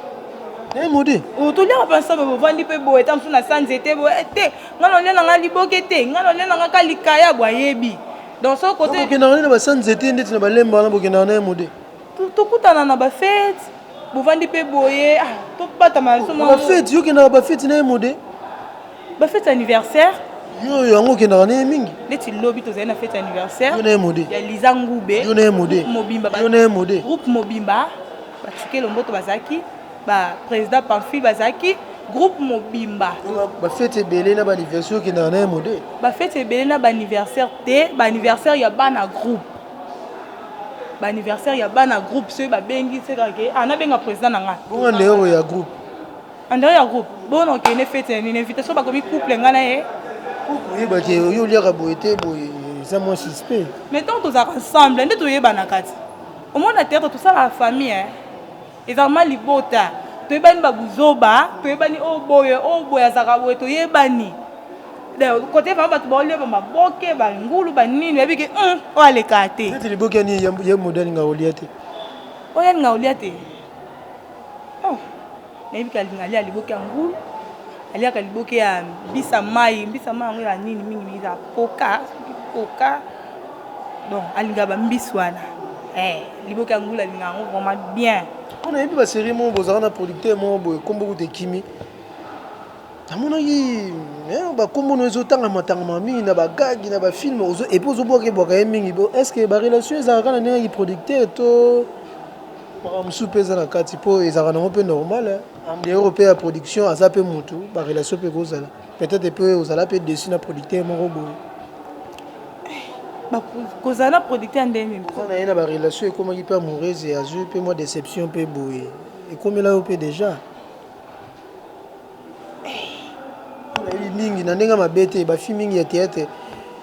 eh, mode oh, toliaka mpe ensemble bovandi mpe boye ta mosusu na sanze te boye eh, te nga naolia na nga liboke te nga naolia na nga ka likaya bwayebi donc so kote bokendaka nde na basanze te ndeti na balemba wana bokendaka na ye mode Tokutana na ba fete bovandi pe boye ah, tobatama ba fete. Yo kendaka ba fete na ye mode? Ba fete anniversaire yo yango okendaka naye mingi neti lobi tozali na fete ya anniversaire ya liza ngube groupe mobimba bacike lomboto bazalaki baprésident pamphile bazalaki groupe mobimba bafete ebele na baanniversaire okendaka naye mode bafete ebele na baanniversaire te baanniversaire ya bana groupe ba anniversaire ya bana groupe soki babengi seka ke ah nabenga président na nga bongo andeyoro ya groupe andeyoro ya groupe bona okende fete ya nini invitation bakomi couple nga na ye oyebaki oyo oliaka boye te boye eza mwa suspect mais ntango tozalaka ensemble nde toyebanaka ti omona théâtre tosalaka famille Eza vraiment libota. Toyebani ba buzoba, toyebani oyo boye, oyo boye azaka boye toyebani. Kote vraiment bato baolia ba maboke, ba ngulu, ba nini, oyebi ke hum, oyo aleka te. Neti liboke ni ye modèle nga olia te. Oya nga olia te. Oh. Nayebi ke alinga alia liboke ya ngulu. Aliaka liboke ya mbisa mai, mbisa mai yango ya nini mingi mingi za koka, koka. Donc alinga ba mbisi wana. Eh. Liboke ya ngulu alinga yango vraiment bien. Mpo nayebi ba serie moko bozalaka na producteur moko boye kombo kutu ekimi. Namonaki eh, ba kombo no ezo tanga matangama mingi na ba gag na ba film ozo et puis ozo bwaka bwaka ye mingi bo est-ce que ba relation ezalaka na ndenge ki producteur to makambo mosusu mpe eza na kati mpo ezalaka nango mpe normal en dehors mpe ya production aza mpe mutu ba relation mpe ekozala Peut etre pe ozala pe dessus na producteur moko boye. kozala na producteur ndenge nini oza na ye na barelation ekomaki mpe amoureuse ya azwi mpe mwa déception mpe boye ekomela yo mpe déjà nayebi mingi na ndenge mabe te bafi mingi ya théâtre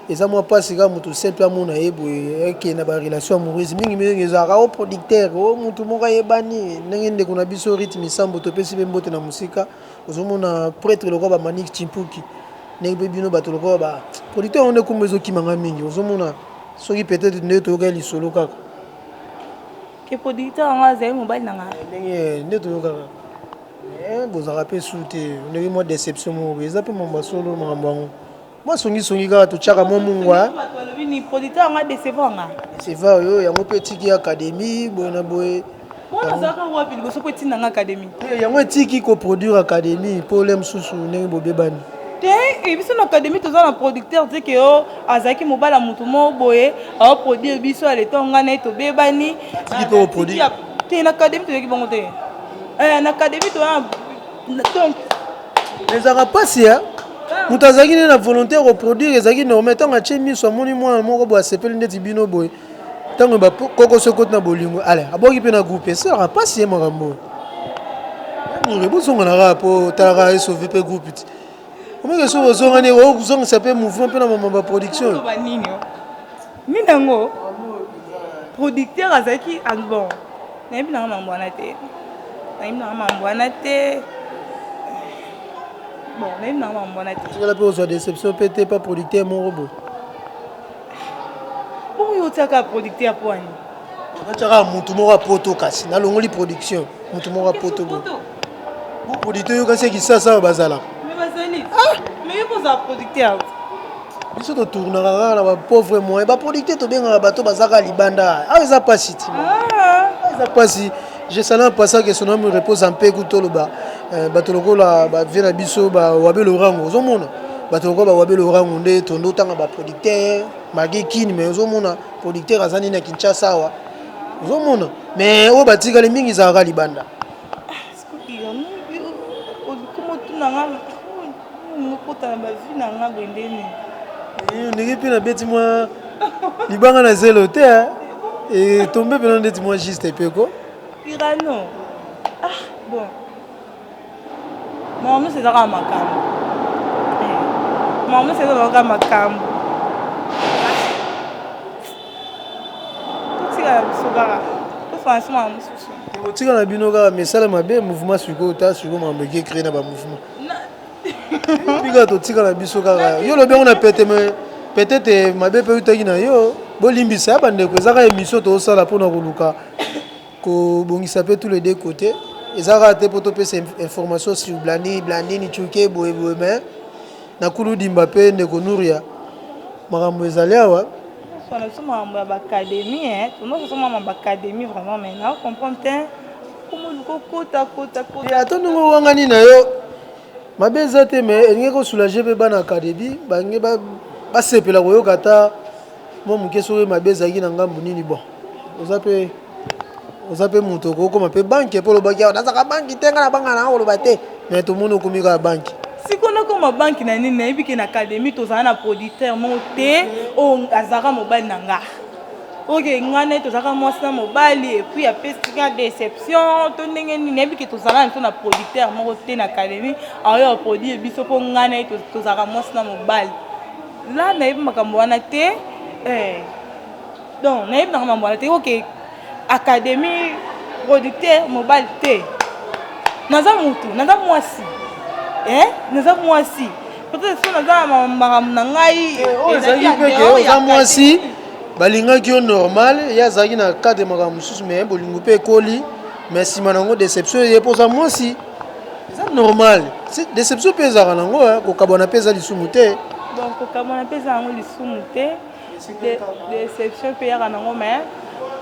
eza mwa mpasi kaka moto simple amona ye boye eke na barelation amoureuse mingi mingi ezalaka o oh, producteur o oh, motu moko ayebani ndenge ndeko na biso rythme isambo topesi mpe mbote na mosika ozomona pretre lokola ba manik chimpuki ndenge mpe bino bato lokola ba producteur yango nde kumba ezokima ngai mingi ozomona soki peut-être nde toyokaki lisolo kaka ke producteur yango azali mobali na ngai ndenge nde toyokaka eh, bozalaka mpe su te ndenge mwa deception moko eza mpe mambo ya solo makambo yango mwa songisongi kaka totyaka mwa mungwa polita yango adecevoir nga deceveur yo yango mpe etiki akademi boye na boye wapi liboso mpo etinda nga akademi eh, yango etiki koproduire akademi mpo ole mosusu ndenge bobebani te eh, biso na akademi toza na producteur te ke o azalaki mobala motu moko boye aoproduire biso ya leta nga na ye tobebani te na akademi toyoki bango te eh, na akademi toza donc Ezalaka mpasi ya moto azalaki nde na volonte ya koproduire ezalaki normal ntango atye miso amoni mwana moko boye asepeli ndeti bino boye ntango bakokoso ekoti na bolingo ale aboki mpe na groupe esalaka mpasi ye makambo oyo mure bozonga na kaka mpo otalaka esove mpe groupe ti omeke soki ozongani ozongisa mpe mouvement mpe na mama baproduction Nini yango? Producteur azalaki ah, bon. Nayebi nanga mambo wana te. Nayebi nanga mambo wana te. Bon, nayebi nanga mambo wana te. Tika pe ozwa déception pe te pa producteur moko bo. Bongo yo otiaka producteur po ani? Otiaka mutu moko ya poto kasi nalongoli production mutu moko ya poto bo. Bo producteur yo kasi kisasa awa bazalaka. Mais bazali. Ah, mais yo boza producteur. biso totournaka kaka na bapauvre moyen baproducteur tobengaka bato bazaka libanda awa eza mpasi ti ah. eza mpasi jesala mpasa ke sonami repose mpe kutoloba eh, bato lokola bavie na biso bawabe lorango ozomona bato lokola bawabe lorango nde tondo otanga baproducteur mage kini mai ozomona producteur aza nini na kinshasa awa ozomona mai oyo batikali mingi ezalaka libanda ndenge mpe nabeti mwa libanga na zelo te etombe mpena ndeti mwa juste epeko irano ah bon makambo nyonso ezaka makambo makambo nyonso ezaka makambo ekotikala bino kaka misala mabe mouvement sikoyo ta sikoyo mambo eke cree na bamouvement bika totikala biso kaka yo lobi yango na pete me peut-être mabe mpe eutaki na yo bolimbisa ya bandeko eza kaka émission tozosala mpona koluka kobongisa mpe tous les deux côtés eza kaka te mpo topesa information sur blani blanini cuke boye boye mais Na kulu dimba pe ndeko Nouria makambo ezali awa. Bonsoir na biso makambo ya b'academie hein tono biso makambo ya b'academie vraiment mais na comprendre te komo luko kota kota kota. Ya to ndenge owangani na yo mabe eza te mais elingi ko soulager pe bana academie bange ba basepela koyoka ata Mwa moke soki mabe ezalaki na ngambo nini bon oza pe oza pe moto okoki koma pe banke po olobaki awa nazaka banki te nga na banga nanga koloba te mais tomoni okomi kaka banki siko nakoma banki na nini nayebi ke na académie tozala na producteur moko te oyo oh, azalaka mobali na nga oke nga naye tozalaka mwasi na mobali epuis apesika déception to ndenge nini nayebi ke tozala na to na producteur moko te na académie aoyo aproduire biso mpo nga naye tozalaka mwasi na mobali Là nayebi makambo wana te eh donc nayebi nanga mambo wana te ok académie producteur mobali te naza mutu naza mwasi eh naza mwasi peut-être so naza na makambo na ngai eh, oyo ezalaki mpe ke oza mwasi balingaki yo normal ye azalaki na cadre makambo mosusu mais bolingo mpe ekoli mais nsima na yango déception eye mpoza mwasi Eza normal. Deception pe ezaka nango hein, kokabwana pe eza lisumu te. Donc kokabwana pe eza nango lisumu te. Deception pe yaka nango mais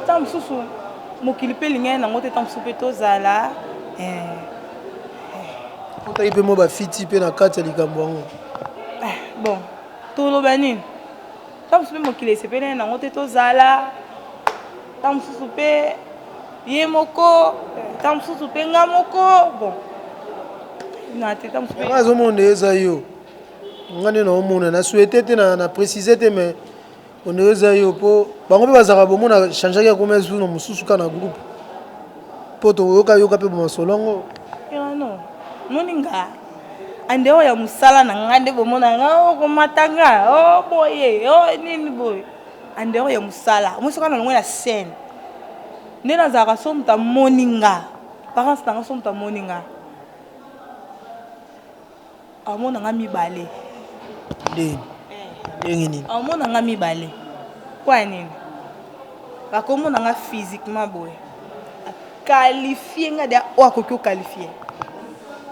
tant mususu mokili pe lingani nango te tant mususu pe tozala eh. Otaki pe mwa ba fiti pe na kati ya likambo yango. Eh, bon, toloba nini? ntango mosusu mpe mokili esepelene nango te tozala ntango mosusu mpe ye moko ntango mosusu mpe nga moko bon azomona eza yo nga nde naomona na souhaite te na précise te mais onde eza yo mpo bango mpe bazalaka bomona changeaki akoma esu na mosusu kaka na groupe mpo toyokayoka mpe bomasolo yango moni nga En dehors ya musala na nga nde bomona nga oh, komata nga oh, boye oh, nini boye en dehors ya musala omoi soki na longo na scène nde nazalaka so moto amoni nga parence na nga so moto amoni nga amona nga mibale ndenge nini amona nga mibale kwa nini Akomona nga physiquement boye. Qualifie nga dia oyo akoki ko qualifier.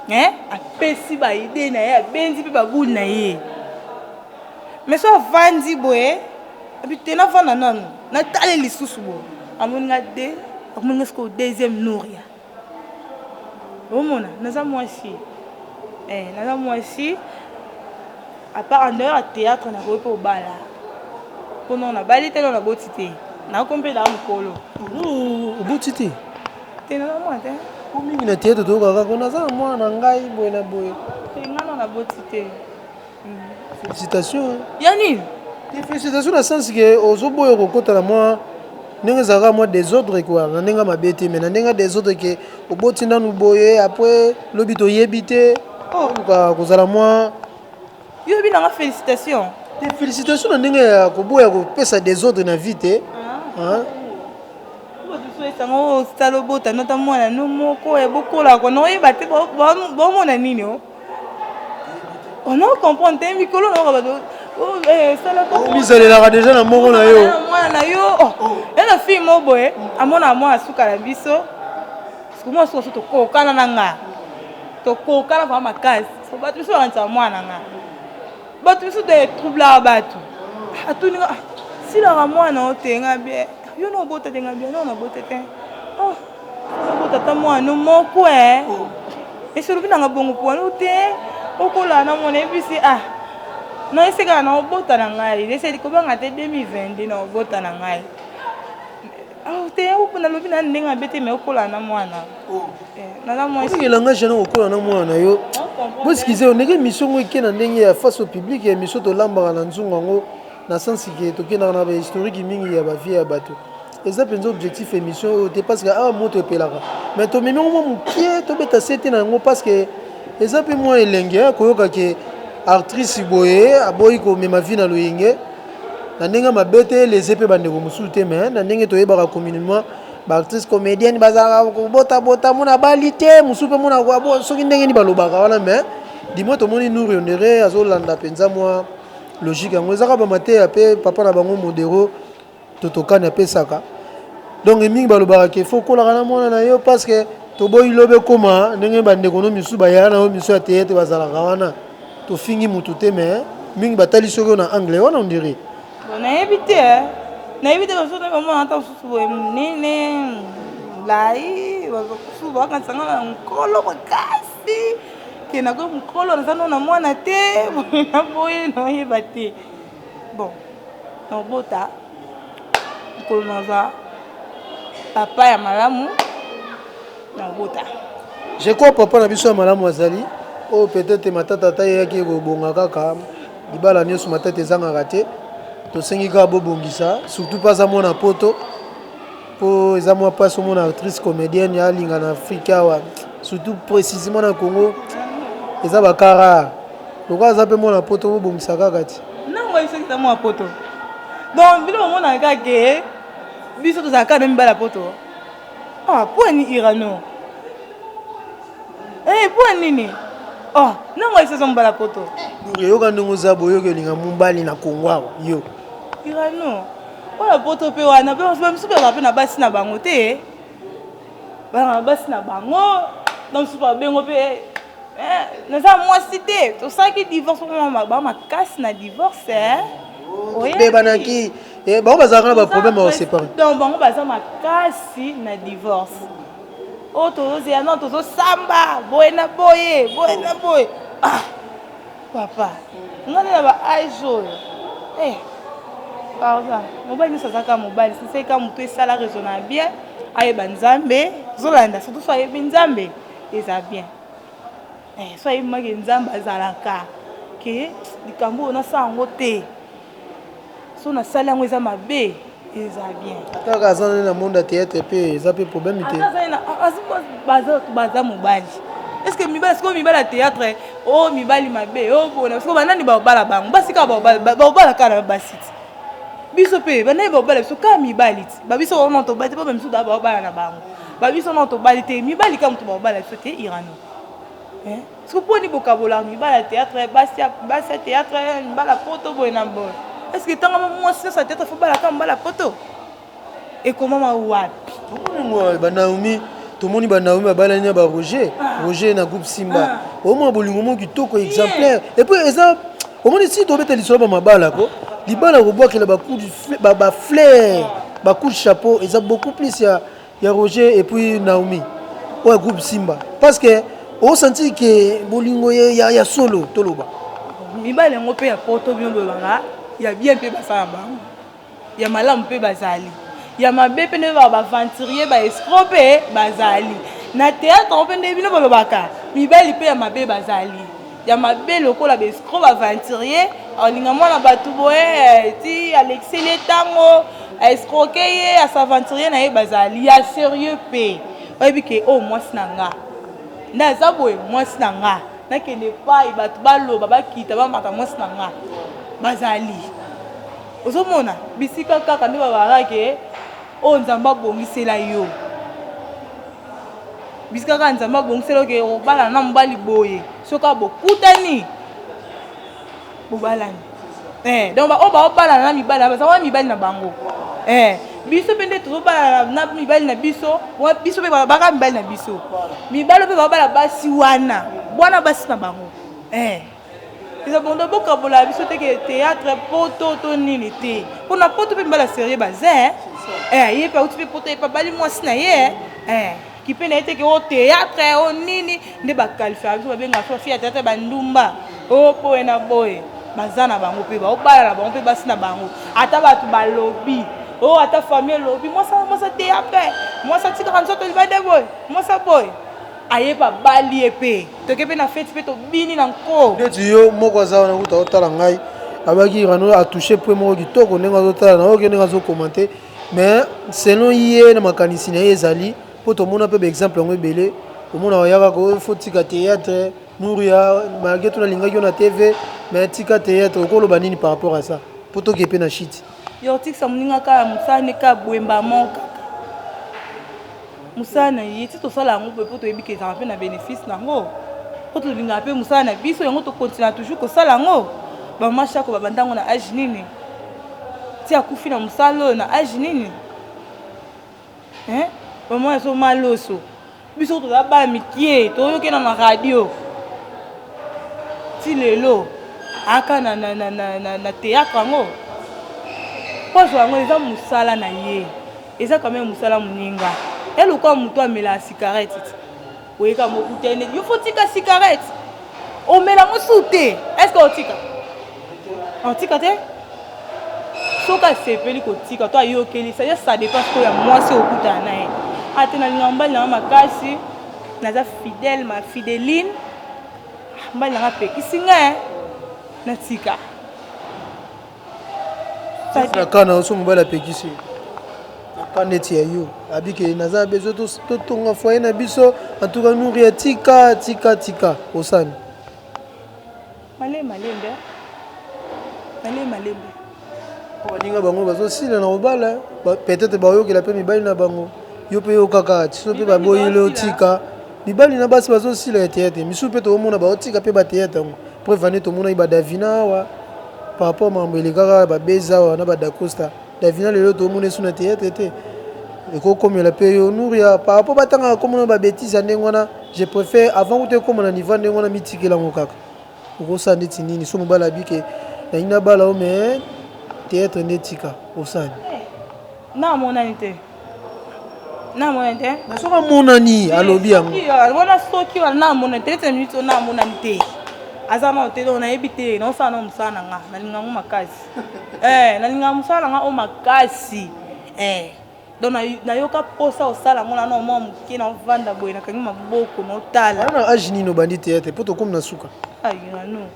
Hein? Apesi ba idée na ye, abenzi pe ba boule na ye. Mais so avandi boye, abi te na vanda nanu, na tale lisusu boye. Amoni nga de, akomoni nga sikoyo deuxième Nouria. omona naza mwasi eh, naza mwasi apart en dehors ya théâtre nakoki mpe obala mpo nao nabali te nao naboti te nakomi mpe naa mokolo oboti te te naza mwana te po mingi na théâtre toyokaka ko naza na mwana na ngai boye na boye te ngai nao naboti te Félicitations. Hein. Ya nini? Félicitations na sens que ozoboya kokota na mwa ndenge ezalaka mwa desordre quoi na ndenge mabe te mais na ndenge desordre ke oboti nanu boye après lobi toyebi te oh. luka kozala mwa yo oyebi nanga félicitation te félicitation na ndenge ya koboya kopesa desordre na vie te ah. sango osala obota nota mwana no moko ya bokolaka na oyeba te baomona nini o oh? on a comprendre te mikolo na oka bato omisalelaka deja na moko na yo mwana na yo ya na fille moko boye amonaka mwana suka na biso sikomwana suka so tokokana na nga tokokana vraimen makasi bato biso bakanisaka mwana na nga bato biso te troublaka bato atuni silaka mwana otenga bie yo na obota tenga bie no na bota te tata mwana moko eh. esolobi nanga bongo pwanu te okola na mwana ebisi ah na esekaka na obota na ngai eseli kobanga te 2022 na obota na ngai ah, te nalobi na ndenge mabe te me okola na mwana oh. eh, elangage yango okola na mwana na yo boskize yo ndenge emission yango eke na ndenge ya face au public ya emission tolambaka na nzungu yango na sensi ke tokendaka na bahistorike mingi ya bavie ya bato Eza penza objectif emission oyo te parceque awa moto epelaka mais tomemi yango mwa mukie tobeta sete na yango parceque eza pe mwa elengi hein koyoka ke artrice boye aboyi komema vie na loyenge na ndenge ya mabe te eleze pe bandeko mosusu te mais na ndenge toyebaka communement ba artrice comedienne bazalaka kobota bota mona bali te mosusu pe mona abo soki ndenge ni balobaka wana mais dimo tomoni nuri onere azolanda penza mwa logique yango ezaka bamateya pe papa na bango modero Toto kani apesaka donc mingi balobaka ke fo kolaka na mwana na yo parce que toboyi lobe koma ndenge bandeko no misusu bayaka na yo misu ya teyete bazalaka wana tofingi mutu te mais mingi batali soki oyo na anglais wana ondire nayebi te eh. nayebi te basoki bamona ata mosusu boye monene lai bazokusu bakanisa nga na nkolo makasi ke nakoki mokolo naza no na mwana te boye naboye nayeba te bon nakobota mokolo nazwa papa ya malamu nakobota je crois papa na biso ya malamu azali oyo peut-être matata ata eyaki ekobonga kaka libala nyonso matata ezangaka te tosengi kaka bobongisa surtout mpe aza mwana poto Po eza mwa pasi omona actrice comedienne ya linga na Afrique awa surtout precisement na Congo eza ba cas rare lokola aza pe mwana poto bobongisa kaka ti na moi soki eza mwana poto donc bino bomonaka kaka ke biso tozalaka kaka na mibala poto ah, po ani irano eh, po anini oh, na moi soki eza mobala poto yoka ndenge oza boyoki olinga mobali na kongo awa yo irano Oyo ya poto pe wana pe ba misusu bazalaka pe na basi na bango te bazalaka na basi na bango na misusu ba bengo pe eh, naza mwasi te tosalaki divorce ba makasi na divorce eh. oyebanaki eh, bango bazalaka na ba problème ya séparer donc bango baza makasi na divorce oyo oh, tozozela no tozosamba boye na boye boye na boye ah. Papa nga nde na ba age oyo eh pardon mobali nyonso aza kaka mobali sisei kaka motu esala raisonna bien ayeba nzambe zolanda surtout so ayebi nzambe eza bien eh, so ayebi maki nzambe azalaka ke likambo oyo nasala yango te so nasali yango eza mabe eza bien ata kaka aza nani na monde ya théâtre mpe eza mpe problème te baza mobali eske mibali sikoyo mibali ya théâtre o oh, mibali mabe o oh, bona sikoyo banani babala bango basi kaka babala kaka na basi ti biso mpe banani babala biso kaka mibali ti babiso wana tobali te mpo bamisu babala na bango babiso wana tobali te mibali kaka moto babala biso te irano eh? Soki poni bokabolaka mibala ya theatre, basi ya basi ya theatre, mibala poto boye na boye. Est-ce que tanga mwasi nyonso ya theatre faut balaka mibala poto? Ekomama wapi? Tomoni mwa ba Naomi, tomoni ba Naomi babalani na ba Roger, ah. Roger na groupe Simba. Ah. Omwa bolingo moko kitoko exemplaire. Et puis eza omoni si tobeta lisolo ba mabala ko libala kobwakela ba coups ba ba fleurs, ba coups de chapeau eza beaucoup plus ya Ya Roger et puis Naomi oyo groupe Simba parce que o sentir que bolingo ya, ya solo toloba mibali yango mpe ya poto bino bolobaka ya bien mpe basala bango ya malamu mpe bazali ya mabe mpe nde baventurier baescro mpe bazali na théâtre yango mpe nde bino bolobaka mibali mpe ya mabe bazali ya mabe lokola ba escroc ba aventurier alinga mwana batu boye ti alekiseli ye tango a escroque ye a s'aventurier na ye bazali ya serieux pe oyebi ke oyo mwasi na nga nde aza boye mwasi na nga nakende epai bato baloba bakita bamata mwasi na nga bazali ozomona bisika kaka nde babarake Oyo nzambe abongisela yo bisika kaka nzambe abongisela yo ke obalana na mobali boye soki kaka bokutani bobalani eh, donc baoyo baobalana na mibali baza wana mibali na bango eh, biso mpe nde tozobalana na mibali na biso biso mpe baka mibali na biso mibali mpe babala basi wana bwana basi na bango eh. Eza bondo bokabola biso te ke théâtre poto to nini te. Mpo na poto mpe mbala serieux baza eh. Eh, ye mpe auti mpe poto ye mpe abali mwasi na ye eh. eh kipe na ye te ke o oh, théâtre o oh, nini nde bakalifaka biso babengaka biso bafi ya théâtre bandumba o oh, boye na boye baza na bango mpe baobala na bango mpe basi na bango ata bato balobi o ata famille elobi mwasa mwasa théâtre mwasa atikaka nzoto libanda boye mwasa boye aye pa bali ye pe toke pe na feti pe tobini na nko neti yo moko aza wana kuta otala ngai abaki rano atouche point moko kitoko ndenge azotala na oke ndenge azokomante mais selon ye na makanisi na ye ezali mpo tomona mpe baexemple yango ebele omona oyaka ko fo tika théâtre nuria malgré to nalingaki yo na tv mais tika théâtre okoloba nini par rapport à ça mpo toke mpe na shiti Yortix ya moninga kaka mosala nde kaka boye mbamon kaka mosala na ye ti tosala yango boye mpo toyebi kezaka mpe na bénéfice na yango mpo tolingaka mpe mosala na biso yango tokontina toujours kosala yango bamama shako babanda yango na age nini ti akufi na mosala oyo na age nini bamama ezomaloso biso toza bana mikie toyoki na na radio ti lelo aka na, na, na, na, na, na théâtre yango poso yango eza mosala na ye eza quand même mosala moninga ya lokola moto amelaka cigarette ti oyeka mokutani yo fo tika cigarette omela mosusu te est ce que otika Atika te soki asepeli kotika to ayokeli sa ya sa dépend sikoyo ya mwasi okutana na ye ate nalingaka mobali na nga makasi naza fidèle ma fideline mobali na nga apekisi nga eh. natika nakana oso mobali apekisi nakana eti ya yo abike naza bezo totonga foye na biso antuka nuri atika tika tika osani Malee malembe malee malembe. Baninga bango bazosila na kobala peut-être bayokela mpe mibali na bango yo mpe yokaka tiso mpe baboyeli otika mibali na basi bazosila ya teyate misusu mpe tokomona baotika mpe bateyate yango mpo evande tomonaki badavina awa par rapport makambo elekaka babeza awa na badacosta davina lelo tokomona esu na teyate te ekokomela mpe yo nuria par rapport batangaka komona babetise ya ndenge wana je préfère avant kuta ekoma na niveau ya ndenge wana mitikela yango kaka Okosala ndeti nini so mobali abi ke nalingi nabala yo mais theatre nde etika osala nini? Na amonani te. Na amonani te. Na soki amonani alobi yango. Wana soki wana na amonani te ete minute na amonani te. Aza na hotel on ayebi te na osala na musala na nga na linga ngo makasi. Eh na linga musala na nga o makasi. Eh Donc na yoka posa osala ngo na no mwa muke na vanda boye na kangi maboko na otala. Ana age nini obandi théâtre poto komi na suka? Aïe na no.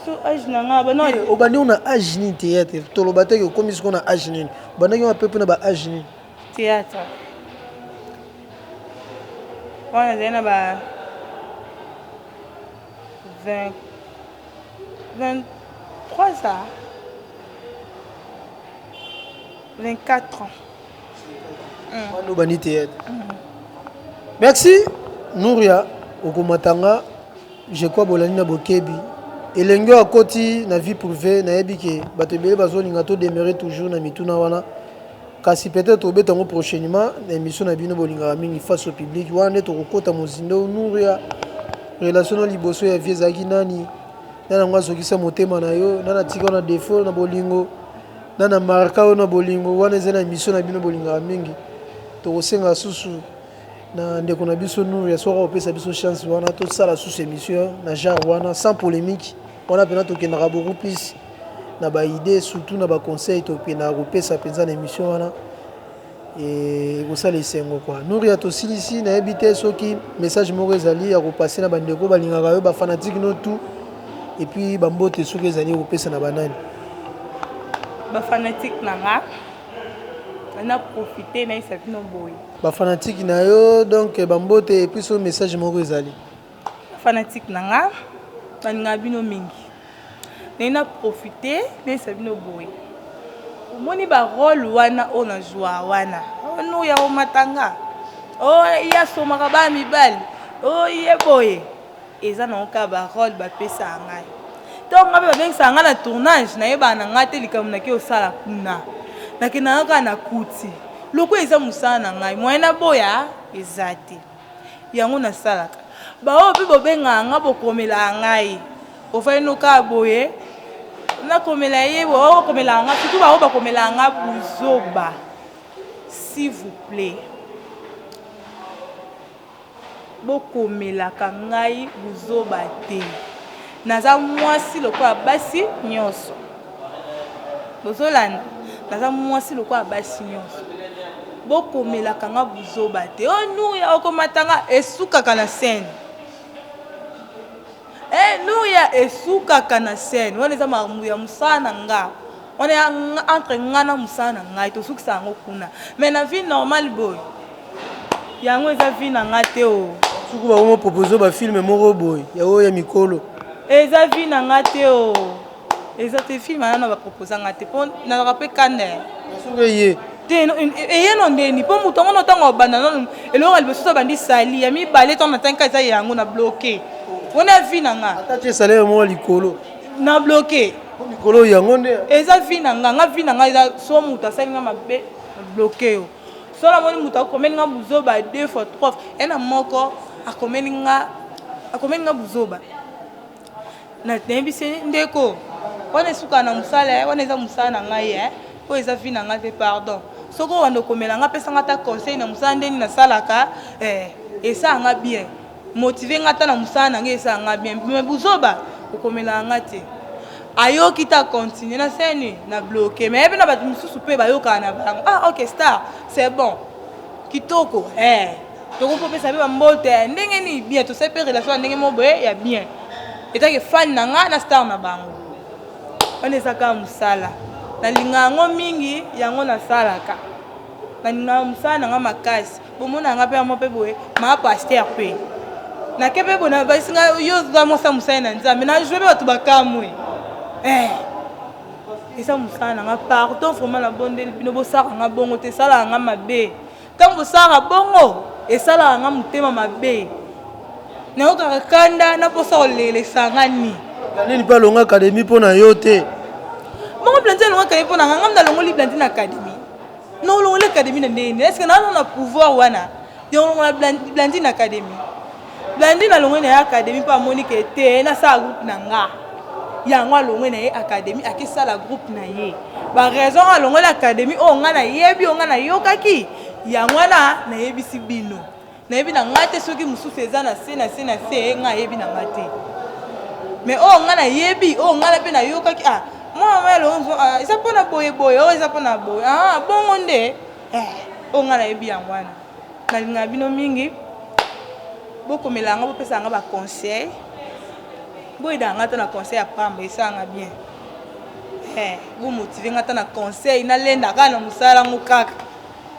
So age na nga ba no. Obandi na age nini théâtre? Toloba te que okomi siko na age nini. Obandaki wa pepe na ba age nini? Théâtre. Wana zena ba 20 23 ans. 24 ans. Mano bani théâtre. Merci Nouria okomatanga je crois bolani na bokebi elenge oyo akoti na vie privée nayebi ke bato ebele bazolinga to demeure toujours na mituna wana kasi peut-être obeta yango prochainement na émission na bino bolingaka mingi face au public wana nde tokokota mozindo Nouria relation na liboso ya vie ezalaki nani nani yango azokisa motema na yo nani atika na défaut na bolingo Na na marka yo na bolingo wana ezali na emission na bino bolingaka mingi tokosenga susu na ndeko na biso Nouria soki akopesa biso chance wana tosala susu emission na genre wana sans polemique wana pena tokendaka beaucoup plus na ba idee surtout na ba conseil tokendaka kopesa penza na emission wana ekosala esengo quoi Nouria tosilisi nayebi te soki message moko ezali ya kopase na bandeko balingaka yo bafanatike no tout et puis bambote soki ezali okopesa na banani bafanatike na nga na profite nayisa bino boye bafanatike na yo donc bambote et puis soki message moko ezali fanatique na nga nalingaka bino mingi naye na profite nayesa bino boye omoni ba role wana oyo na zwa wana onu ya omatanga o oh, ye asomaka ba mibali o oh, ye boye eza nango kaka ba role bapesaka ngai ntango ngai mpe babengisaka ngai na tournage nayebaka na ngai te likambo nake osala kuna nakendaka kaka na kuti lokola eza mosala na ngai moyen naboya eza te yango na salaka ba oyo pe bo bengaka nga bo komelaka ngai ofandi no kaka boye na komela ye bo oyo komelaka nga surtout ba oyo ba komelaka nga buzoba s'il vous plaît bokomelaka ngai buzoba te Naza mwasi lokola basi nionso. Bozolanda? Naza mwasi lokola basi nionso. Bokomelaka nga buzoba te. Oh Nuria okomata nga esukaka na scène. Eh Nuria esukaka na scène. Wana eza makambo ya mosala na nga. Wana entre nga na mosala na ngai tosukisa yango kuna. Mais na vie normale boye yango eza vie na nga te o suku bakomo propose ba film moko boye ya oyo ya mikolo eza vie na nga te o eza te film anana baproposa nga te mpo nazaka mpe kane soki eye te no- e- e- eye no ndeni mpo moto yango no ntango abanda nanu eloko ya liboso tobandi sali ya mibale ntango natanka eza yango na bloke wana ya vie na nga ata tie salaire moko likolo na bloke mpo mikolo yango nde eza vie na nga nga vie na nga eza so moto asali nga mabe na bloke yo Soki namoni moto akomeli nga buzoba deux fois trois fois, ya na moko akomeli nga akomeli nga buzoba na nayebisi ye, ndeko wana esukaka na mosala ye wana eza mosala na ngai ye oyo eza vi na ngai te pardon soki owanda okomela nga pesa nga ata conseil na mosala ndeni nasalaka eh, esala nga bien motive nga ata na musala na nga esala nga bien mais buzoba okomelaka nga te ayoki ta continue na seni na bloke mais pe na bato mosusu mpe bayokaka na bango ah ok star c'est bon kitoko eh tokoki kopesa mpe bambote eh, ndenge nini bien tosali mpe relation ya ndenge moko boye ya bien etake fani na ngai na star na bango wana eza kaka mosala nalingaka yango mingi yango nasalaka nalingaka mosala na ngai makasi Bomona nga pe amo pe boye ma pasteur pe na ke pe bona basi nga yo za mwasa musali na nzambe na joue pe bato bakamwe eh eza mosala na nga pardon vraiment na bondeli bino bosalaka nga bongo te esalaka nga mabe ntango bosalaka bongo esalaka nga motema mabe nayokaka kanda na mposa kolelesa nga ni nini mpe alonga akademi mpo na yo te bongo blandi alonga akademi mpo na nga ngamda alongoli blandi na akademi Na olongola academy na ndenge nini? Eske naza na pouvoir wana ya kolongola Blandine na academy? Blandine alongwe na ye academy mpo amoni ke te nasala groupe na nga yango alongwe na ye academy akesala groupe na ye ba raison alongoli academy oyo nga nayebi oyo nga nayokaki yango wana nayebisi bino nayebi na ngai te soki mosusu eza na se na se na se eh, ngai ayebi na ngai te mais oyo ngai nayebi oyo ngai mpe nayokaki ah mwana mama elongo ah, eza mpo na boye boye oyo oh, eza mpo na boye ah bongo nde eh, oyo ngai nayebi yango wana nalingaka bino mingi bokomela yango bopesa yango baconseil boyeda yango ata na conseil ya pamba esalanga bien eh, bomotive ngai ata na conseil nalendaka na mosala yango kaka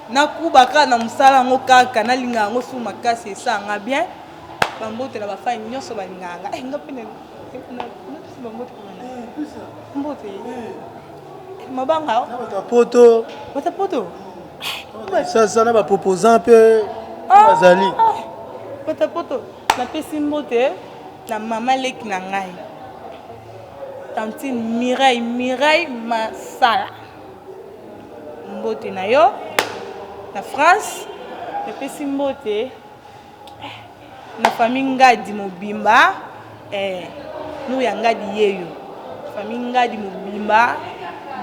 Na kuba kaka na musala yango kaka na linga yango sous makasi esala nga bien ba mbote na ba fans nionso ba lingaka nga eh nga pe na pesi ba mbote kuna na mbote eh, mabanga na bato ya poto bato ya poto sasa na ba proposant pe ah, bazali ah, ah. bato ya poto na pesi mbote na mama leki na ngai tantine mireille mireille masala mbote na yo na France epesi mbote eh, na famille Ngadi mobimba eh, nous ya Ngadi yeyo famille Ngadi mobimba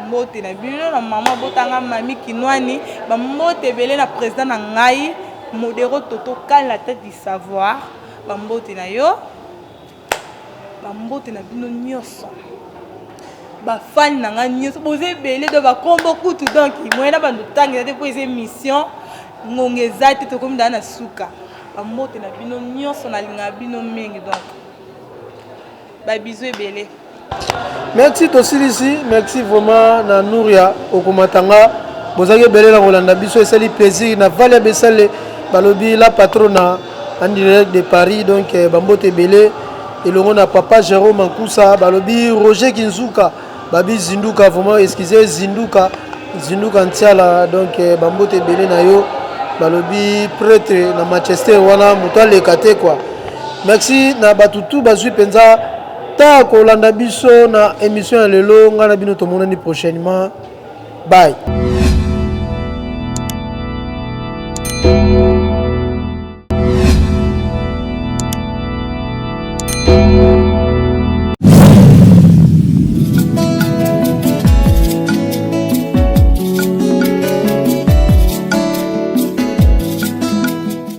mbote na bino na mama botanga mami kinwani bambote ebele na président na ngai modero toto kani la tête du savoir bambote na yo bambote na bino nyonso bafani na ngai nyonso boza ebele do bakombo kutu donk moye na bando ntango eza te mpo eza émission ngonga eza te tokomi daa na suka bambote na bino nyonso nalingaka bino mingi donk babizu ebele Merci tosilisi merci vraiment na nouria okomata nga bozaki ebele na kolanda biso esali plaisir na valia besale balobi la patrona en direct de paris donc eh, bambote ebele elongo na papa jérôme nkusa balobi roger kinzuka babi zinduka vraiment excuse zinduka zinduka ntiala donc eh, bambote ebele na yo balobi pretre na manchester wana moto aleka te kua merci na bato tu bazwi mpenza ta kolanda biso na emission ya lelo ngai na bino tomonani prochainement bye